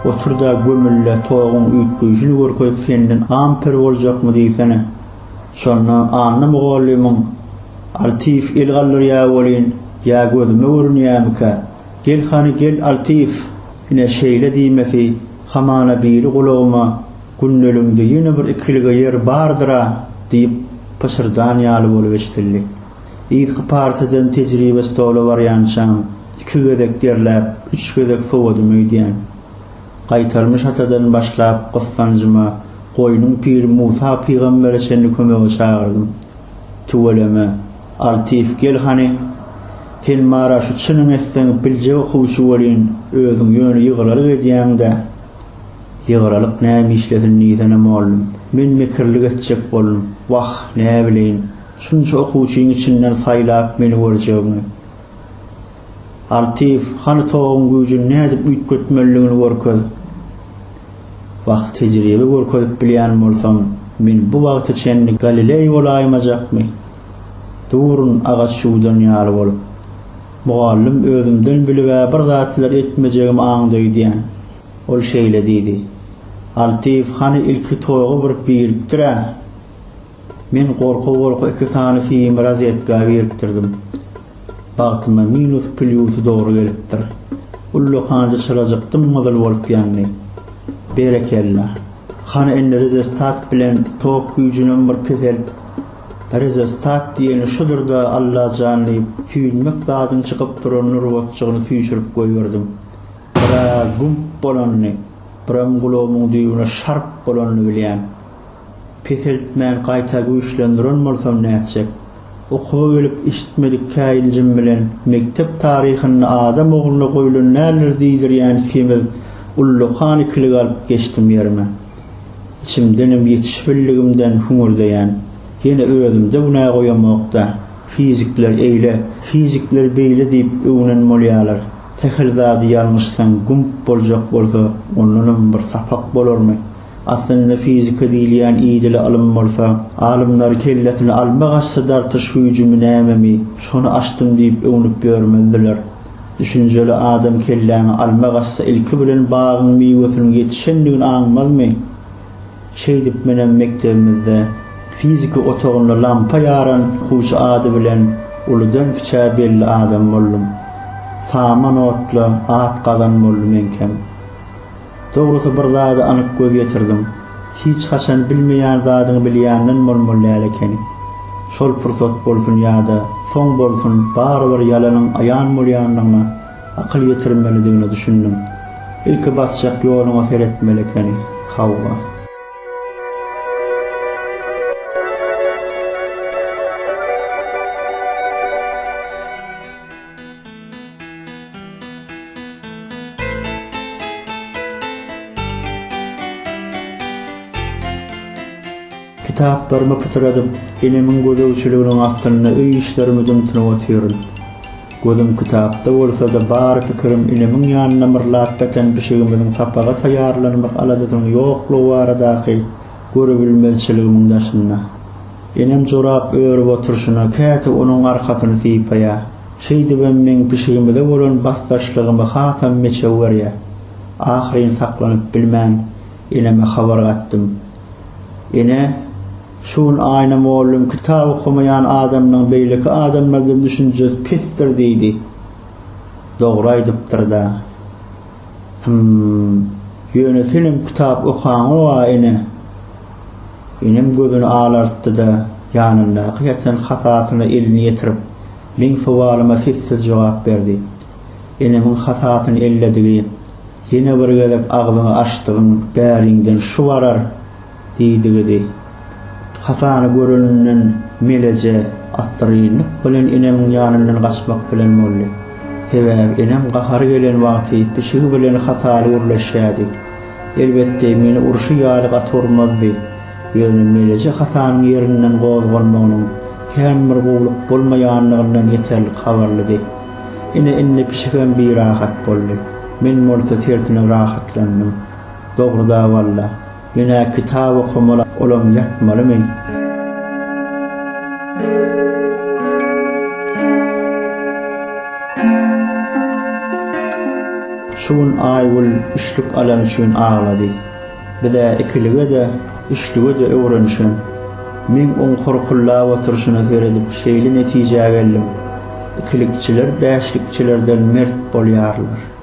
Speaker 1: Otur-da, gömül-le, toguň üýtgeýşini görkezip senden ampir boljakmy diýsene. Şonda Anna mugallymyň, Altyýew el galdyrýa welin, ýa gözüme görünýämikä? Gel hany, gel, Altyýew! Ine, şeýle diýmesi, hamana biri gulagyma, Gündeligiňde ýene bir ikilige ýer bardyr-a! diýip pyşyrdan ýaly bolup eşidildi. Yzky partiden tejribe stola barýançam, iki gezek derläp, üç gezek sowadym öýdýän. Gaýtarmy şatadan başlap gyssanjyma goýnuň piri Musa pygambere çenli kömege çagyrdym. Tüweleme, Altyýew gel hany. Sen bar-a şu çynyň etseň biljek okuwçy welin, özüň ýöne ýygyralyk edýäň-dä. Ýygyralyk näme işlesin diýsene mollum. Men mekirlik etjek boldum. Wah, näbileýin. Şunça okuwçyň içinden saýlap meni görjegiňi. Artyf, hany toguň güýjüni nädip üýtgetmelidigini görkez. Wah, tejribe görkezip bilýän bolsam, men bu wagta çenli Galileý bolaýmajakmy? Durun agaç ýuwdan ýaly bolup. Mugallym özümden bilib-ä bir zatlar etmejegimi aňdy öýdýän. Ol şeýle diýdi. Artyf, hany ilki togy bir birikdir-ä. Men gorka-gorka iki sany sim rozetka birikdirdim. Bagtyma minus plýusy dogry gelipdir. Ullakanjy çyrajyk dym-gyzyl bolup ýandy. Berekella. Hany indi rezestat bilen tok güýjünem bir peselt. Rezestat diýeni şudur-da Allajan diýip süýnmek zadyň çykyp duran nurbatjygyny süýşürip goýberdim. Biraz gump bolandy, biram gulagymyň düýbüne şarp bolandy bilýän. Peseltmän gaýta güýçlendiren bolsam nätjek? Okuwa gelip eşitmedik käýinjim bilen mekdep taryhynda adam ogluna goýlan näler diýdirýän semiz ullakan ikilik alyp geçdim ýerime. Içimdenem ýetişbildigimden hüňürdeýän. Ýene özümde günä goýamok-da. Fizikler eýle, fizikler beýle diýip öwnen bolýalar. Sähel zady ýalňyşsaň gümp boljak bolsa ondanam bir sapak bolarmy? Aslynda fizika diýilýän idili ylym bolsa, alymlar kellesini alma gaçsa dartyş hüjümi nämemi, şony açdym diýip öwnüp ýörmezdiler. Düşünjeli adam kelläňi alma gaçsa ilki bilen bagyň miwesiniň ýetişendigini aňmazmy? Şeýdip menem mekdebimizde fizika otagynda lampa ýaran okuwçy ady bilen uludan kiçä belli adam boldum. Saman otla at gazan boldy meňkem. Dogrusy bir zada anyk göz ýetirdim. Hiç haçan bilmeýän zadyňy bilýänden bolmaly däl ekeni. Şol pursat bolsun ýa-da soň bolsun barybir ýalanyň aýan bolýandygyna akyl ýetirmelidigine düşündim. Ilki basjak ýoluňa seretmeli ekeni. Hawa. Kitaplarymy pytradyp, enemiň gözegçiliginiň astynda öý işlerimi dymtynyp otyryn. Gözüm kitapda bolsa-da, bar pikirim inemiň ýanyna myrlap beten pişigimiziň sapaga taýýarlanmak aladasynyň ýoklugy baradaky. Görübilmezçiligimiň daşynda. Enem jorap örüp oturyşyna käte onuň arkasyny sypaýar. Şeýdibem meň pişigimize bolan basdaşlygymy hasam meçew görýär. Ahyryn saklanyp bilmän, eneme habar gatdym. Ene, şu gün Aýna mollum kitap okamaýan adamlaň beýleki adamlardan düşünjesi pesdir diýdi. Dogry aýdypdyr-da. Hym. Ýöne senem kitap okaňow-a, ene. Enem gözüni alartdy-da, ýanyndaky ýatan hasasyna elini ýetirip, meň sowalyma sessiz jogap berdi. Enemiň hasasyny elledigi, Ýene bir gezek agzyňy açdygyň bäriňden şu barar! Diýdigidi. Hasany göreninden Meleje assyrynlyk bilen enemiň ýanyndan gaçmak bilen boldy. Sebäbi enem gahary gelen wagty pişigi bilen hasaly gürleşýärdi. Elbetde, meni urşy ýaly gaty urmazdy. Ýöne Meleje Hasanyň ýerinden gozgalmagynyň kän bir gowulyk bolmaýanlygyndan ýeterlik habarlydy. Ine, indi pişigem birahat boldy. Men bolsa tersine rahatlandym. Dogry-da walla. Ýöne kitap okamaly olam ýatmalymy. Şu gün Aýgül üçlük alany üçin aglady. Biz-ä ikilige-de, üçlige-de öwrenişen. Men oň horkullap oturyşyna seredip şeýle netijä geldim, ikilikçiler bäşlikçilerden mert bolýarlar.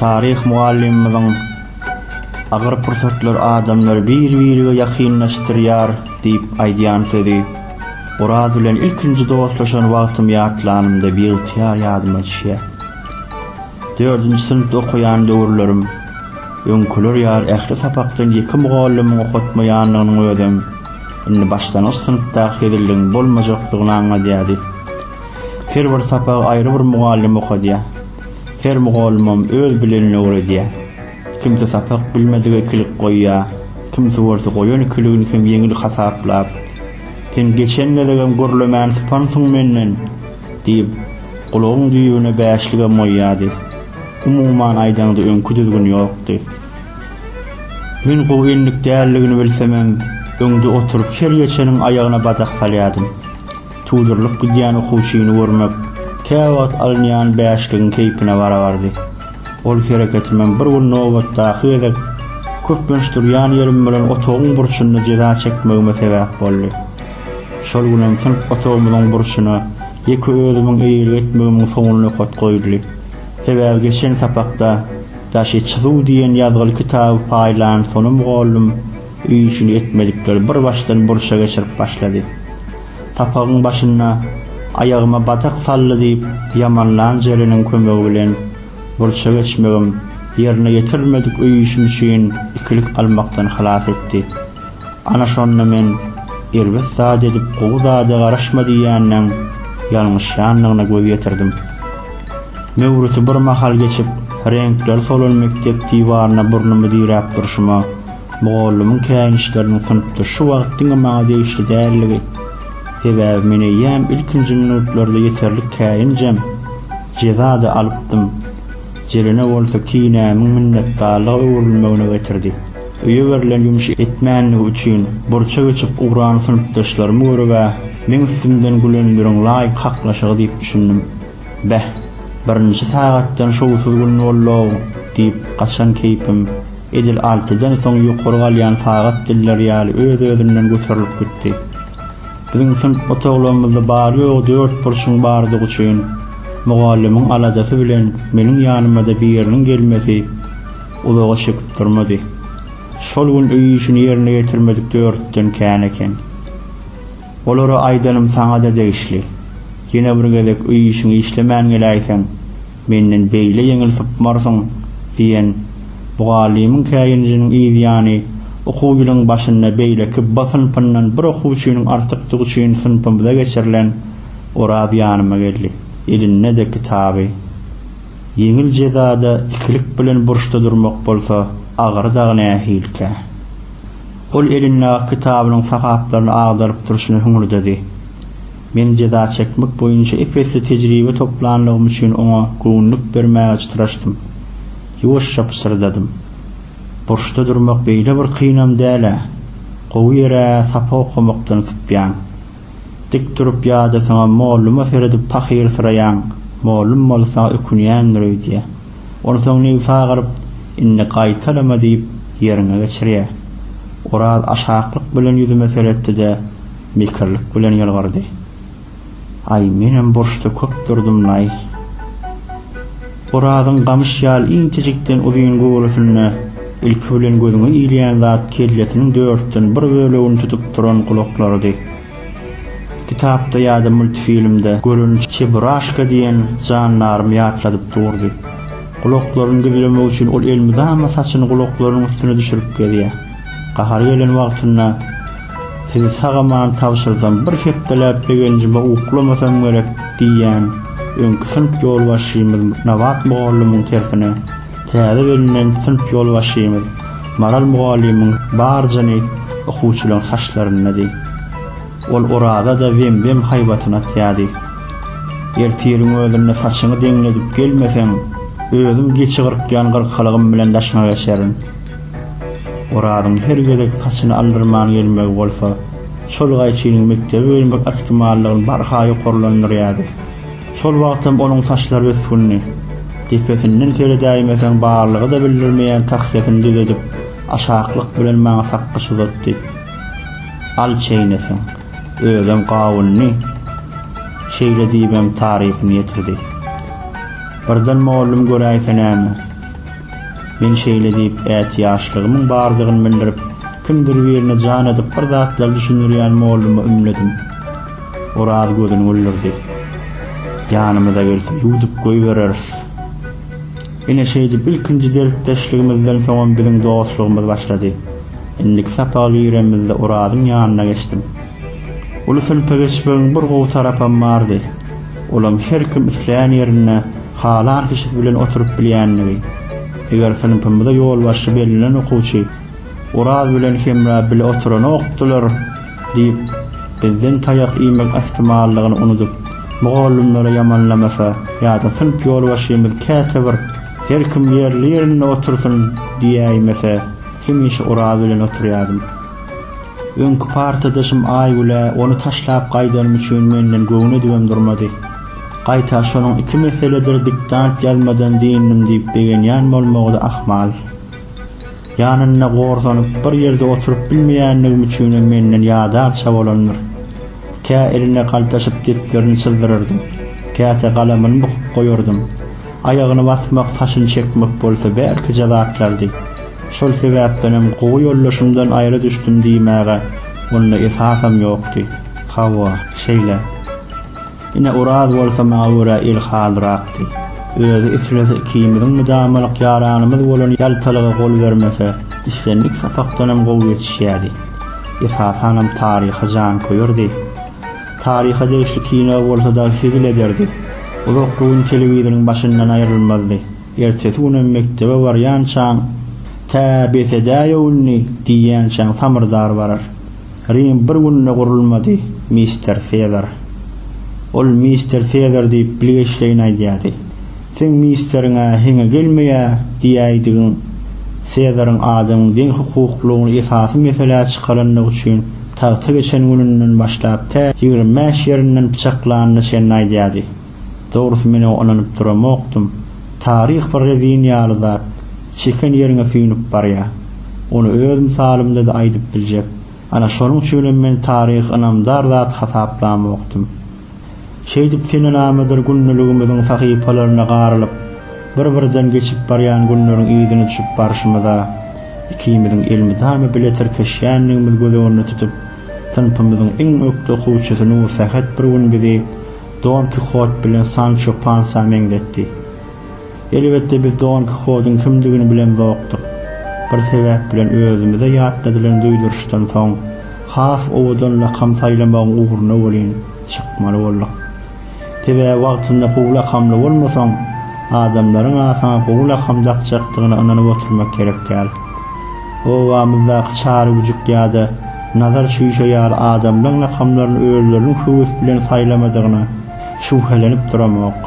Speaker 1: Taryh mugallymymyzyň Agyr pursatlar adamlary bir-birige ýakynlaşdyrýar diýip aýdýan sözi Oraz bilen ilkinji dostlaşan wagtym ýatlanymda biygtyýar ýadyma düşýär. Dördünji synpda okaýan döwürlerim, öňküler ýaly ähli sapakdan ýeke mugallymyň okatmaýanlygynyň özem indi başlangyç synpdaky hezilligiň bolmajakdygyny aňladýardy. Her bir sapagy aýry bir mugallym okadýar. Her mugallymam öz bilenini öwredýär. Kimsi sapak bilmedige ikilik goýýar, kimsi bolsa goýan ikiligini hem ýeňil hasaplap, Sen geçen gezegem gürlemäni sypansyň menden! diýip, gulagyň düýbüne bäşligem goýýardy. Umuman aýdaňda öňki düzgün ýokdy. Men gowy endik däldigini bilsemem, öňde oturyp her geçeniň aýagyna badak salýardym. Tudurylyp gidýän okuwçyny görmek käwagt alynýan bäşligiň keýpine barabardy. Ol hereketimem bir gün nobatdaky gezek köplenç durýan ýerim bilen otagyň burçunda jeza çekmegime sebäp boldy. Şol günem synp otagymyzyň burçuna ýeke özümiň eýelik etmegimiň soňy nokat goýuldy. Sebäbi geçen sapakda Daşy çyzuw diýen ýazgyly kitaby paýlan Sona mugallym, Öý üçin etmedikleri bir başdan burça geçirip başlady. Sapagyň başynda Aýagyma batak saldy diýip ýamanlan Jeleniň kömegi bilen burça geçmegim ýerine ýetirilmedik öý işim üçin ikilik almakdan halas etdi. Ana şonda men Erbet zat edip gowy zada garaşma diýýänleň ýalňyşýanlygyna göz ýetirdim. Möwriti bir mahal geçip reňkleri solan mekdep diwaryna burnumy diräp durşuma, Mugallymyň käýinçleriniň synpda şu wagt diňe maňa degişli däldigi, sebäbi men eýýäm ilkinji minutlarda ýeterlik käýinjem, jeza-da alypdym. Jelene bolsa kinämiň minnetdarlyga öwrülmegine getirdi. Öýe berlen ýumşy etmänligi üçin burça geçip ugran synpdaşlarymy görüb-ä, meň üstümden gülenleriň laýyk haklaşygy diýip düşündim. Beh, birinji sagatdan şowsuz gün bollow, diýip, gaçan keýpim, edil altydan soň ýokary galýan sagat dilleri ýaly öz-özünden göterilip gitdi. Biziň synp otaglygymyzda bary-ýogy dört burçuň bardygy üçin, mugallymyň aladasy bilen meniň ýanyma-da biriniň gelmesi uzaga çekip durmady. Şol gün öý işini ýerine ýetirmedik dörtden kän eken. Olary aýdanym saňa-da degişli. Ýene bir gezek öý işiňi işlemän geläýseň, menden beýle ýeňil sypmarsyň, diýen mugallymyň käýinijiniň yz ýany okuw ýylyň başynda beýleki B synpyndan bir okuwçynyň artykdygy üçin synpymyza geçirilen Oraz ýanyma geldi. Elinde-de kitaby. Ýeňil jezada ikilik bilen burçda durmak bolsa agyry dagy nähilikä? Ol elindäki kitabynyň sahaplaryny agdaryp durşuna hüňürdedi. Men jeza çekmek boýunça ep-esli tejribe toplanlygym üçin oňa göwünlik bermäge çytraşdym. Ýuwaşja pyşyrdadym. Burçda durmak beýle bir kynam däl-ä. Gowy ýer-ä, sapak okamakdan sypýaň. Dik durup ýa-da saňa molluma seredip pahyrsyrayýaň, mollum bolsa ökünýändir öýdýä. Onsoň nebsa galyp, Indi gaýtalama diýip, ýeriňe geçirýä. Oraz aşaklyk bilen ýüzüme seretdi-de, mekirlik bilen ýylgyrdy. Aý, menem burçda köp durdum-laý. Orazyň gamyş ýaly inçejikden uzyn göwresinde ilki bilen gözüňe ilýän zat kellesiniň dörtden bir bölegini tutup duran gulaklarydy. Kitapda ýa-da multfilmde gören Çeburashka diýen jandarym ýatladyp durdy. Gulaklaryny gizlemek üçin ol elmydama saçyny gulaklarynyň üstüne düşürip gezýär. Gahary gelen wagtynda sizi sag-aman tabşyrsam, bir hepdeläp begenjime uklamasam gerek diýýän öňki synp ýolbaşçymyz Nabat mugallymyň tersine, täze bellenen synp ýolbaşçymyz Maral mugallymyň bar jyny okuwçylaryň saçlaryndady. Ol Oraza-da zem-zem haýbatyny atýardy. Ertiriň özünde saçyňy deňledip gelmeseň, özüm geçi gyrkýan gyrkalygym bilen daşyňa geçerin. Orazyň her gezek saçyny aldyrman gelmegi bolsa, şol gaýçynyň mekdebe gelmek ähtimallygyny barha ýokarlandyrýardy. Şol wagtam onuň saçlary ösgündi. Depesinden seredäýmeseň barlygy-da bildirmeýän tahýasyny düzedip, aşaklyk bilen maňa sakgyç uzatdy. Al çeýneseň. Özem gawundy. Şeýle diýibem tarypyny ýetirdi. Birden mollum göräýse näme. Men şeýle diýip, ätiýaçlygymyň bardygyny bildirip, kimdir birine jan edip bir zatlar düşündirýän molluma ümledim. Oraz gözüni güldürdi. Ýanymyza gelse, ýuwdup goýbereris. Ine, şeýdip, ilkinji dertdeşligimizden soňam biziň dostlugymyz başlady. Indiki sapaga giremizde Orazyň ýanyna geçdim. Uly synpa geçmegiň bir gowy tarapam bardy. Olam her kim isleýän ýerinde halan kişisi bilen oturyp bilýändigi. Eger synpymyza ýolbaşçy bellenen okuwçy Oraz bilen Hemra bile oturanokdylar diýip, bizden taýak iýmek ähtimallygyny unudyp, mugallymlary ýamanlamasa ýa-da synp ýolbaşçymyz käte bir Her kim ýerli-ýerinde otursyn diýäýmese, hemişe Oraz bilen oturýardym. Öňki partadaşym Aýgülä ony taşlap gaýdanym üçin menden göwün edibem durmady. Gaýta şonuň iki meseledir diktant ýazmadan dynnym diýip begenýän bolmagy-da ahmal. Ýanynda gorsanyp, bir ýerde oturyp bilmeýänligim üçinem menden ýadarça bolandyr. Kä eline galtaşyp depderini çyzdyrardym, käte galamyny bukup goýardym. Aýagyny basmak, saçyny çekmek bolsa bärkije zatlardy. Şol sebäpdenem gowy ýoldaşymdan aýra düşdüm diýmäge onda esasam ýokdy. Hawa, şeýle. Ine, Oraz bolsa maňa görä ilhalyrakdy. Özi islese ikimiziň mydamalyk ýaranymyz bolan ýaltalyga gol bermese, islendik sapakdanam gowy ýetişýärdi. esasanam taryha janköýerdi. Taryha degişli kino bolsa dagy hezil ederdi. Uzakly gün telewizoryň başyndan aýrylmazdy. Ertesi günem mekdebe barýançaň, Tä bes edäýow indi! diýýänçäň samyrdar barar. Rim bir günde gurulmady, mister Sezar. Ol mister Sezar diýip bilgeşleýin aýdýardy. Seň ministriň-ä heňe gelmeýä diýäýdigiň Sezaryň adamyň deň hukuklygyny esasy meselä çykarandygy üçin tagta geçen gününden başlap tä ýigrimi bäş ýerinden pyçaklanyna çenli aýdýardy. Dogrusy men oňa ynanyp duramokdym. Taryh bir rezin ýaly zat, çeken ýeriňe süýnüp barýar. Ony öz mysalymda-da aýdyp biljek. Ana şonuň üçinem men taryhy ynamdar zat hasaplamokdym. Şeýdip senenamadyr gündeligimiziň sahypalaryna garylyp, bir-birden geçip barýan günleriň yzyna düşüp barşymyza, ikimiziň elmydama bile tirkeşýändigimiz göz öňünde tutup, synpymyzyň iň ökde okuwçysy Nursähet bir gün bizi Don Kihot bilen Sanço Pansa meňzetdi. Elbetde biz Don Kihodyň kimdigini bilemzokdyk. Bir sebäp bilen özümize ýatladylan duýduryşdan soň has owadan lakam saýlamagyň ugruna welin, Çykmaly bolduk. Sebäbi wagtynda gowy lakamly bolmasaň, adamlaryň-a saňa gowy lakam dakjakdygyna ynanyp oturmak gerek däl. Obamyzdaky Çary güjük ýa-da Nazar çüýşe ýaly adamlaň lakamlaryny özleriniň höwes bilen saýlamadygyna şübhelenip duramok.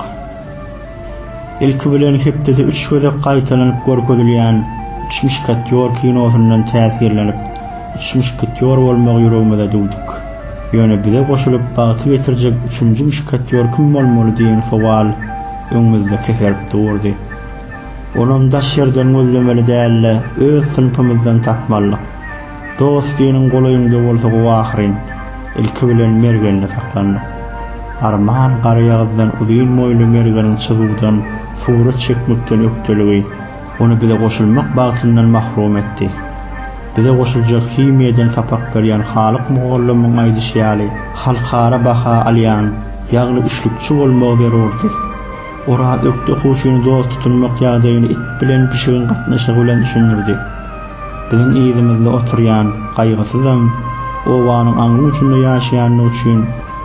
Speaker 1: Ilki bilen hepdede üç gezek gaýtalanyp görkezilýän Üç muşketýor kinosyndan täsirlenip, üç muşketýor bolmagy ýüregimize düwdük. Ýöne bize goşulyp bagty getirjek üçünji muşketýor kim bolmaly diýen sowal öňümizde keserip durdy. Onam daş ýerden gözlemeli däl-de, öz synpymyzdan tapmalydyk. Dost seniň golaýyňda bolsa gowy ahyryn. Ilki bilen Mergende saklandyk. Arman Garaýagyzdan uzyn boýly Mergeniň çyzuwdan, surat çekmekden ökdeligi ony bize goşulmak bagtyndan mahrum etdi. Bize goşuljak himiýadan sapak berýän Halyk mugallymyň aýdyşy ýaly, halkara baha alýan, ýagny üçlükçi bolmagy zerurdy. Oraz ökde okuwçyny dost tutunmak ýagdaýyny it bilen pişigiň gatnaşygy bilen düşündirdi. Biziň yzymyzda oturýan gaýgysyzam, obanyň aňry uçunda ýaşaýandygy üçin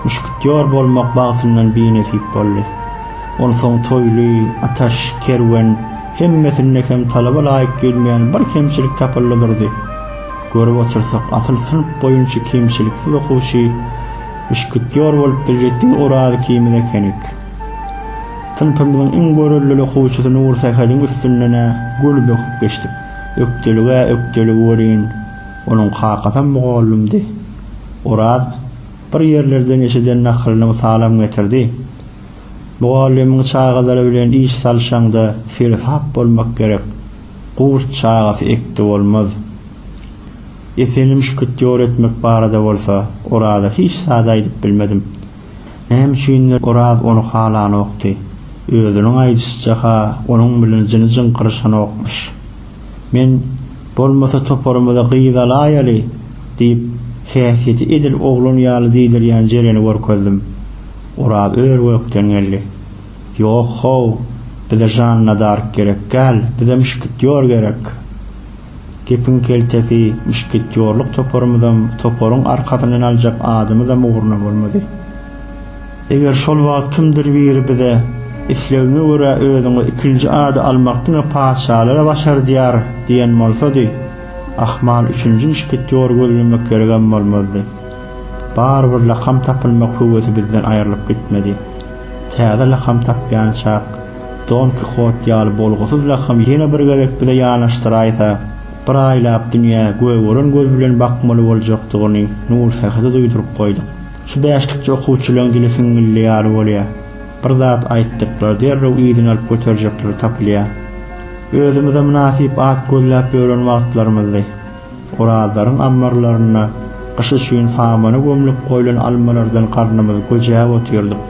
Speaker 1: muşketýor bolmak bagtyndan binesip boldy. Onsoň Toýly, Ataş, Kerwen, hemmesinde hem talaba laýyk gelmeýän bir kemçilik tapyldy durdy. Görüp otursak, asyl synp boýunça kemçiliksiz okuwçy, muşketýor bolup biljek diňe Oraz ikimiz ekenik. Synpymyzyň iň görellili okuwçysy Nursähediň üstünden-ä göni böküp geçdik. Ökdelige ökdelik welin, onuň kakasam mugallymdy. Oraz bir ýerlerden eşiden nakylynyň salam getirdi. Mugallymyň çagalary bilen iş salyşaňda seresap bolmak gerek. Gurt çagasy ekdi bolmaz. Esenim şkitýor etmek barada bolsa, Oraza hiç zat aýdyp bilmedim. Näme üçindir, Oraz ony halanokdy. Özüniň aýdyşyça-ha, onuň bilen jyny jyňkyryşanokmyş. Men, Bolmasa toparymyza gyz alaýaly! diýip, häsiýeti edil oglan ýaly diýdirýän Jereni görkezdim. Oraz ör-gökden geldi. Ýok-how, bize Žanna Dark gerekgäl, bizem mşketýor gerek! Gepiň keltesi, muşketýorlyk toparymyzam, toparyň arkasyndan aljak adymyzam ugruna bolmady. Eger şol wagt kimdir biri bize, Islegiňe görä özüňe ikinji ady almak diňe patyşalara başardýar diýen bolsady, ahmal üçünji muşketýory gözlemek geregem bolmazdy. Barybir lakam tapynmak höwesi bizden aýrylyp gitmedi. Täze lakam tapýançak, Don Kihot ýaly bolgusyz lakam ýene bir gezek bize ýanaşdyraýsa, bir aýlap dünýä göýä gören göz bilen bakmaly boljakdygyny Nursähede duýduryp goýduk. Şu bäşlikçi okuwçylaň dili siňňilli ýaly bolýar. Bir zat aýtdyklary derrew yzyny alyp göterjekleri tapylýar. Özümize mynasyp at gözläp ýören wagtlarymyzdy. Orallaryň ammarlarynda gyş üçin samana gömlüp goýlan almalardan garnymyzy göjäp otyrdyk.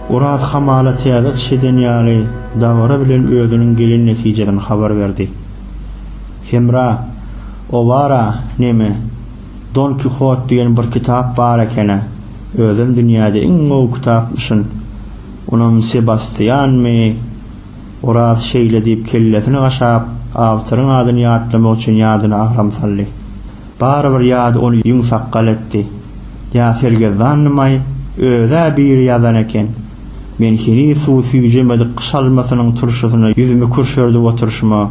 Speaker 1: Oraz hamala täze çyş eden ýaly dabara bilen özüniň gelen netijesini habar berdi. Hemra, Owara, neme, Don Kihot diýen bir kitap bar eken-ä, özem dünýäde iň gowy kitapmyşyn. Onam Sebastianmy? Oraz şeýle diýip kellesini gaşap, awtoryň adyny ýatlamak üçin ýadyna agram saldy. Barybir ýady ony ýüňsakgal etdi. Ýa sergezdandym-aý, öz-ä biri ýazan eken. Men heniz suw süýjemedik gyş almasynyň turşusyna ýüzümi kürşerdip oturyşyma.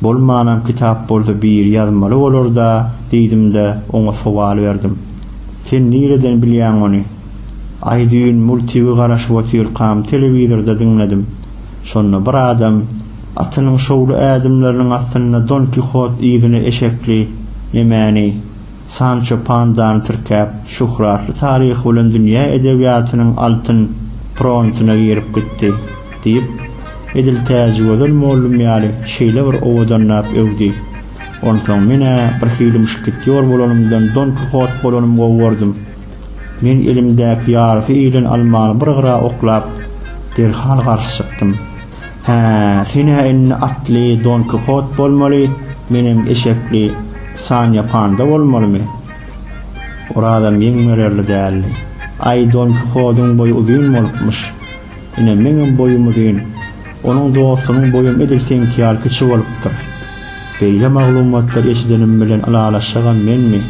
Speaker 1: Bolmanam kitap bolsa biri ýazmaly bolar-da diýdim-de, oňa sowal berdim. Sen nireden bilýäň ony? Aý, düýn multigy garaşyp otyrkam telewizorda diňledim. Şonda bir adam atynyň şowly ädimleriniň astynda Don Kihot yzyna eşekli nemäni, Sanço Pandany tirkäp, şöhratly taryhy bilen dünýä edebiýatynyň altyn prontyna girip gitdi. Diýip, edil Täjigözel mollum ýaly şeýle bir owadanlap öwdi. Onsoň men-ä birhili muşketýor bolanymdan Don Kihot bolanym gowy gördüm. Men elimdäki ýarysy iýilen almany bir gyra oklap, derhal garşy çykdym. Hä, sen-ä indi atly Don Kihot bolmaly, menem eşekli Sanýa Panda bolmalymy? Orazam ýeň bererli däldi. Aý, Don Kihodyň boýy uzyn bolupmyş. Ine, meňem boýum uzyn. Onuň dostunyň boýam edil seňki ýaly kiçi bolupdyr. Beýle maglumatlary eşidenim bilen ylalaşjagam menmi?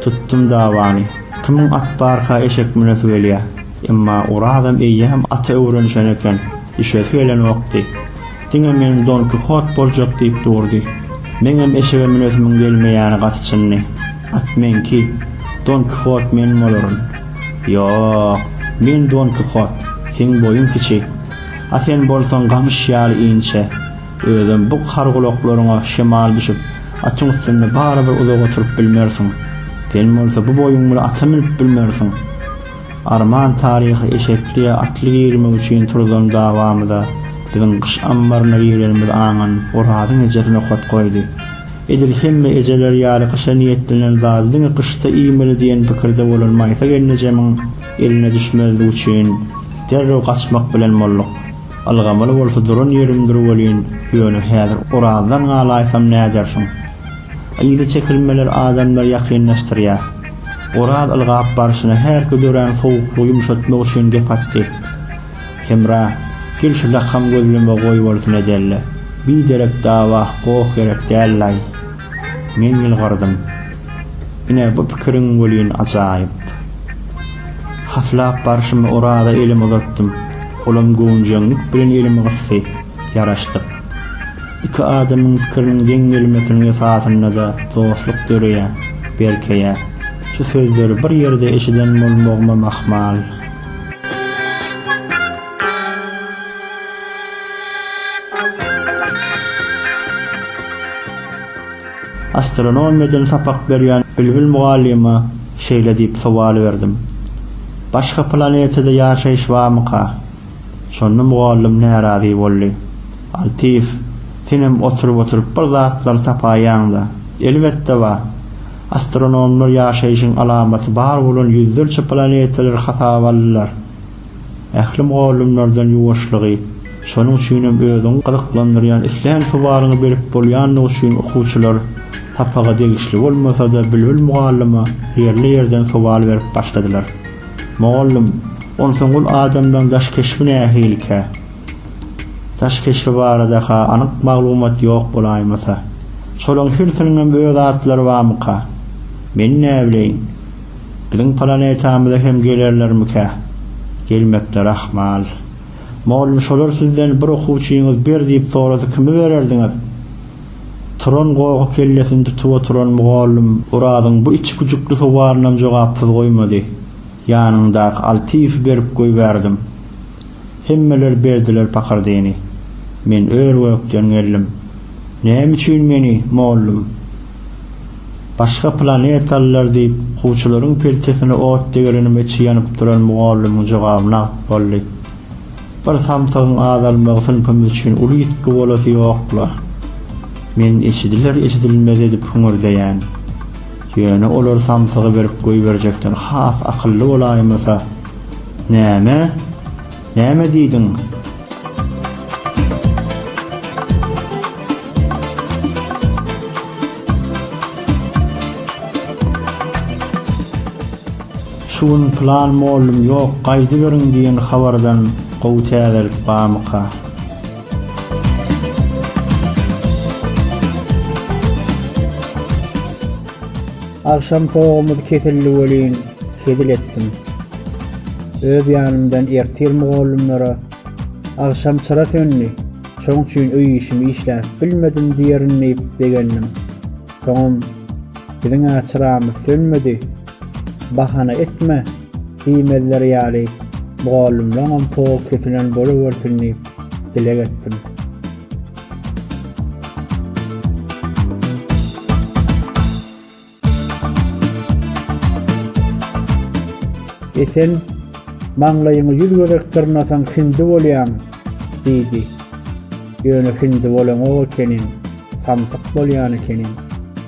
Speaker 1: Tutdum dawany. Kimiň at barka eşek münesi gelýär. Emma Orazam eýýäm ata öwrenişen eken, düşesi gelenokdy. Diňe men Don Kihot boljak diýip durdy. Meňem eşege münesimin gelmeýäni gaty çyndy. At meňki, Don Kihot men bolaryn. Ýok, men Don Kihot, seň boýuň kiçi. A sen bolsaň gamyş ýaly inçe. Özem bu hargulaklaryňa şemal düşüp, atyň üstünde barybir uzak oturyp bilmersiň. Sen bolsa bu boýuň bilen ata münüp bilmersiň. Arman taryhy eşekli ýa atly girmek üçin turulan dawamyza biziň gyş ammaryna girenimiz aňan Orazyň ejesi nokat goýdy. Edil hemme ejeler ýaly gyşa niýetlenen zady diňe gyşda iýmeli diýen pikirde bolan Maýsa gelnejemiň eline düşmezlik üçin derrew gaçmak bilen bolduk. Ylgamaly bolsa duran ýerimdir welin, ýöne häzir Orazdan galaýsam nädersiň? Yza çekilmeler adamlary ýakynlaşdyrýar. Oraz ylgap barşyna härki dörän sowuklygy ýumşatmak üçin gep atdy. Hemra, gel şu lakam gözleme goýbolsun edeli. Biderek dawa, goh gerek dällaý. Men ýylgyrdym. Ine, bu pikiriň welin ajaýyp. Haslap barşyma Oraza elimi uzatdym. Olam göwünjeňlik bilen elimi gysdy. Ýaraşdyk. Iki adamyň pikiriniň deň gelmesiniň esasynda-da dostluk döreýär, berkeýär. Şu sözleri bir ýerde eşiden bolmagymam ahmal. Astronomiýadan sapak berýän Bilbil mugallyma şeýle diýip sowal berdim, Başga planetada ýaşaýyş barmyka? Şonda mugallym närazy boldy. Altyýew, senem oturyp-oturyp bir zatlar tapaýýaň-da. Elbetde bar. Astronomlar ýaşaýşyň alamaty bar bolan ýüzlerçe planetalary hasaba aldylar. Ähli mugallymlardan ýuwaşlygy, şonuň üçinem özüňi gyzyklandyrýan islän sowalyňy berip bolýandygy üçin okuwçylar sapaga degişli bolmasa-da Bilbil mugallyma ýerli ýerden sowal berip başladylar. Mugallym, Onsoň ol adamlaň daş keşbi nähilikä? Daş keşbi barada-ha anyk maglumat ýok bolaýmasa. Şolaň hirsiniňem öz atlary barmyka? Men näbileýin. Biziň planetamyza hem gelerlermikä? Gelmekleri ahmal. Mugallym, Şolar sizden bir okuwçyňyz ber diýip sorasa kimi bererdiňiz? Turan gohy kellesini tutup oturan mugallym Orazyň bu içgüjükli sowalynam jogapsyz goýmady. Ýanyndaky Altyýewi berip goýberdim. Hemmeler berdiler pakyrdyny. Men ör-gökden geldim. Näme üçin meni, mollum? Başga planetalylar diýip, kuwçularyň peltesine ot degerenime içi ýanyp duran mugallymyň jogaby nagt boldy. Bir samsygyň azalmagy synpymyz üçin uly ýitgi bolasy ýok-la. Men eşidiler-eşidilmez edip hüňürdeýän. Ýöne olar samsygy berip goýberjekden has akylly bolaýmasa. Näme? Näme diýdiň? Şu gün plan mollum ýok gaýdyberiň diýen habardan gowy täzelik barmyka. Agşam togumyz kesildi welin hezil etdim. Öz ýanymdan ertir mugallymlara Agşam çyra söndi, şoň üçin öý işimi işläp bilmedim diýerin diýip begendim. Soňam Biziň-ä çyramyz sönmedi. Bahana etme! diýmezler ýaly, mugallymlaňam powy kesilen bolubersin diýip, dileg etdim. E sen maňlaýyňy ýüz gezek dyrnasaň hindi bolýaň! diýdi. Ýöne hindi bolanok ekeniň, samsyk bolýan ekeniň.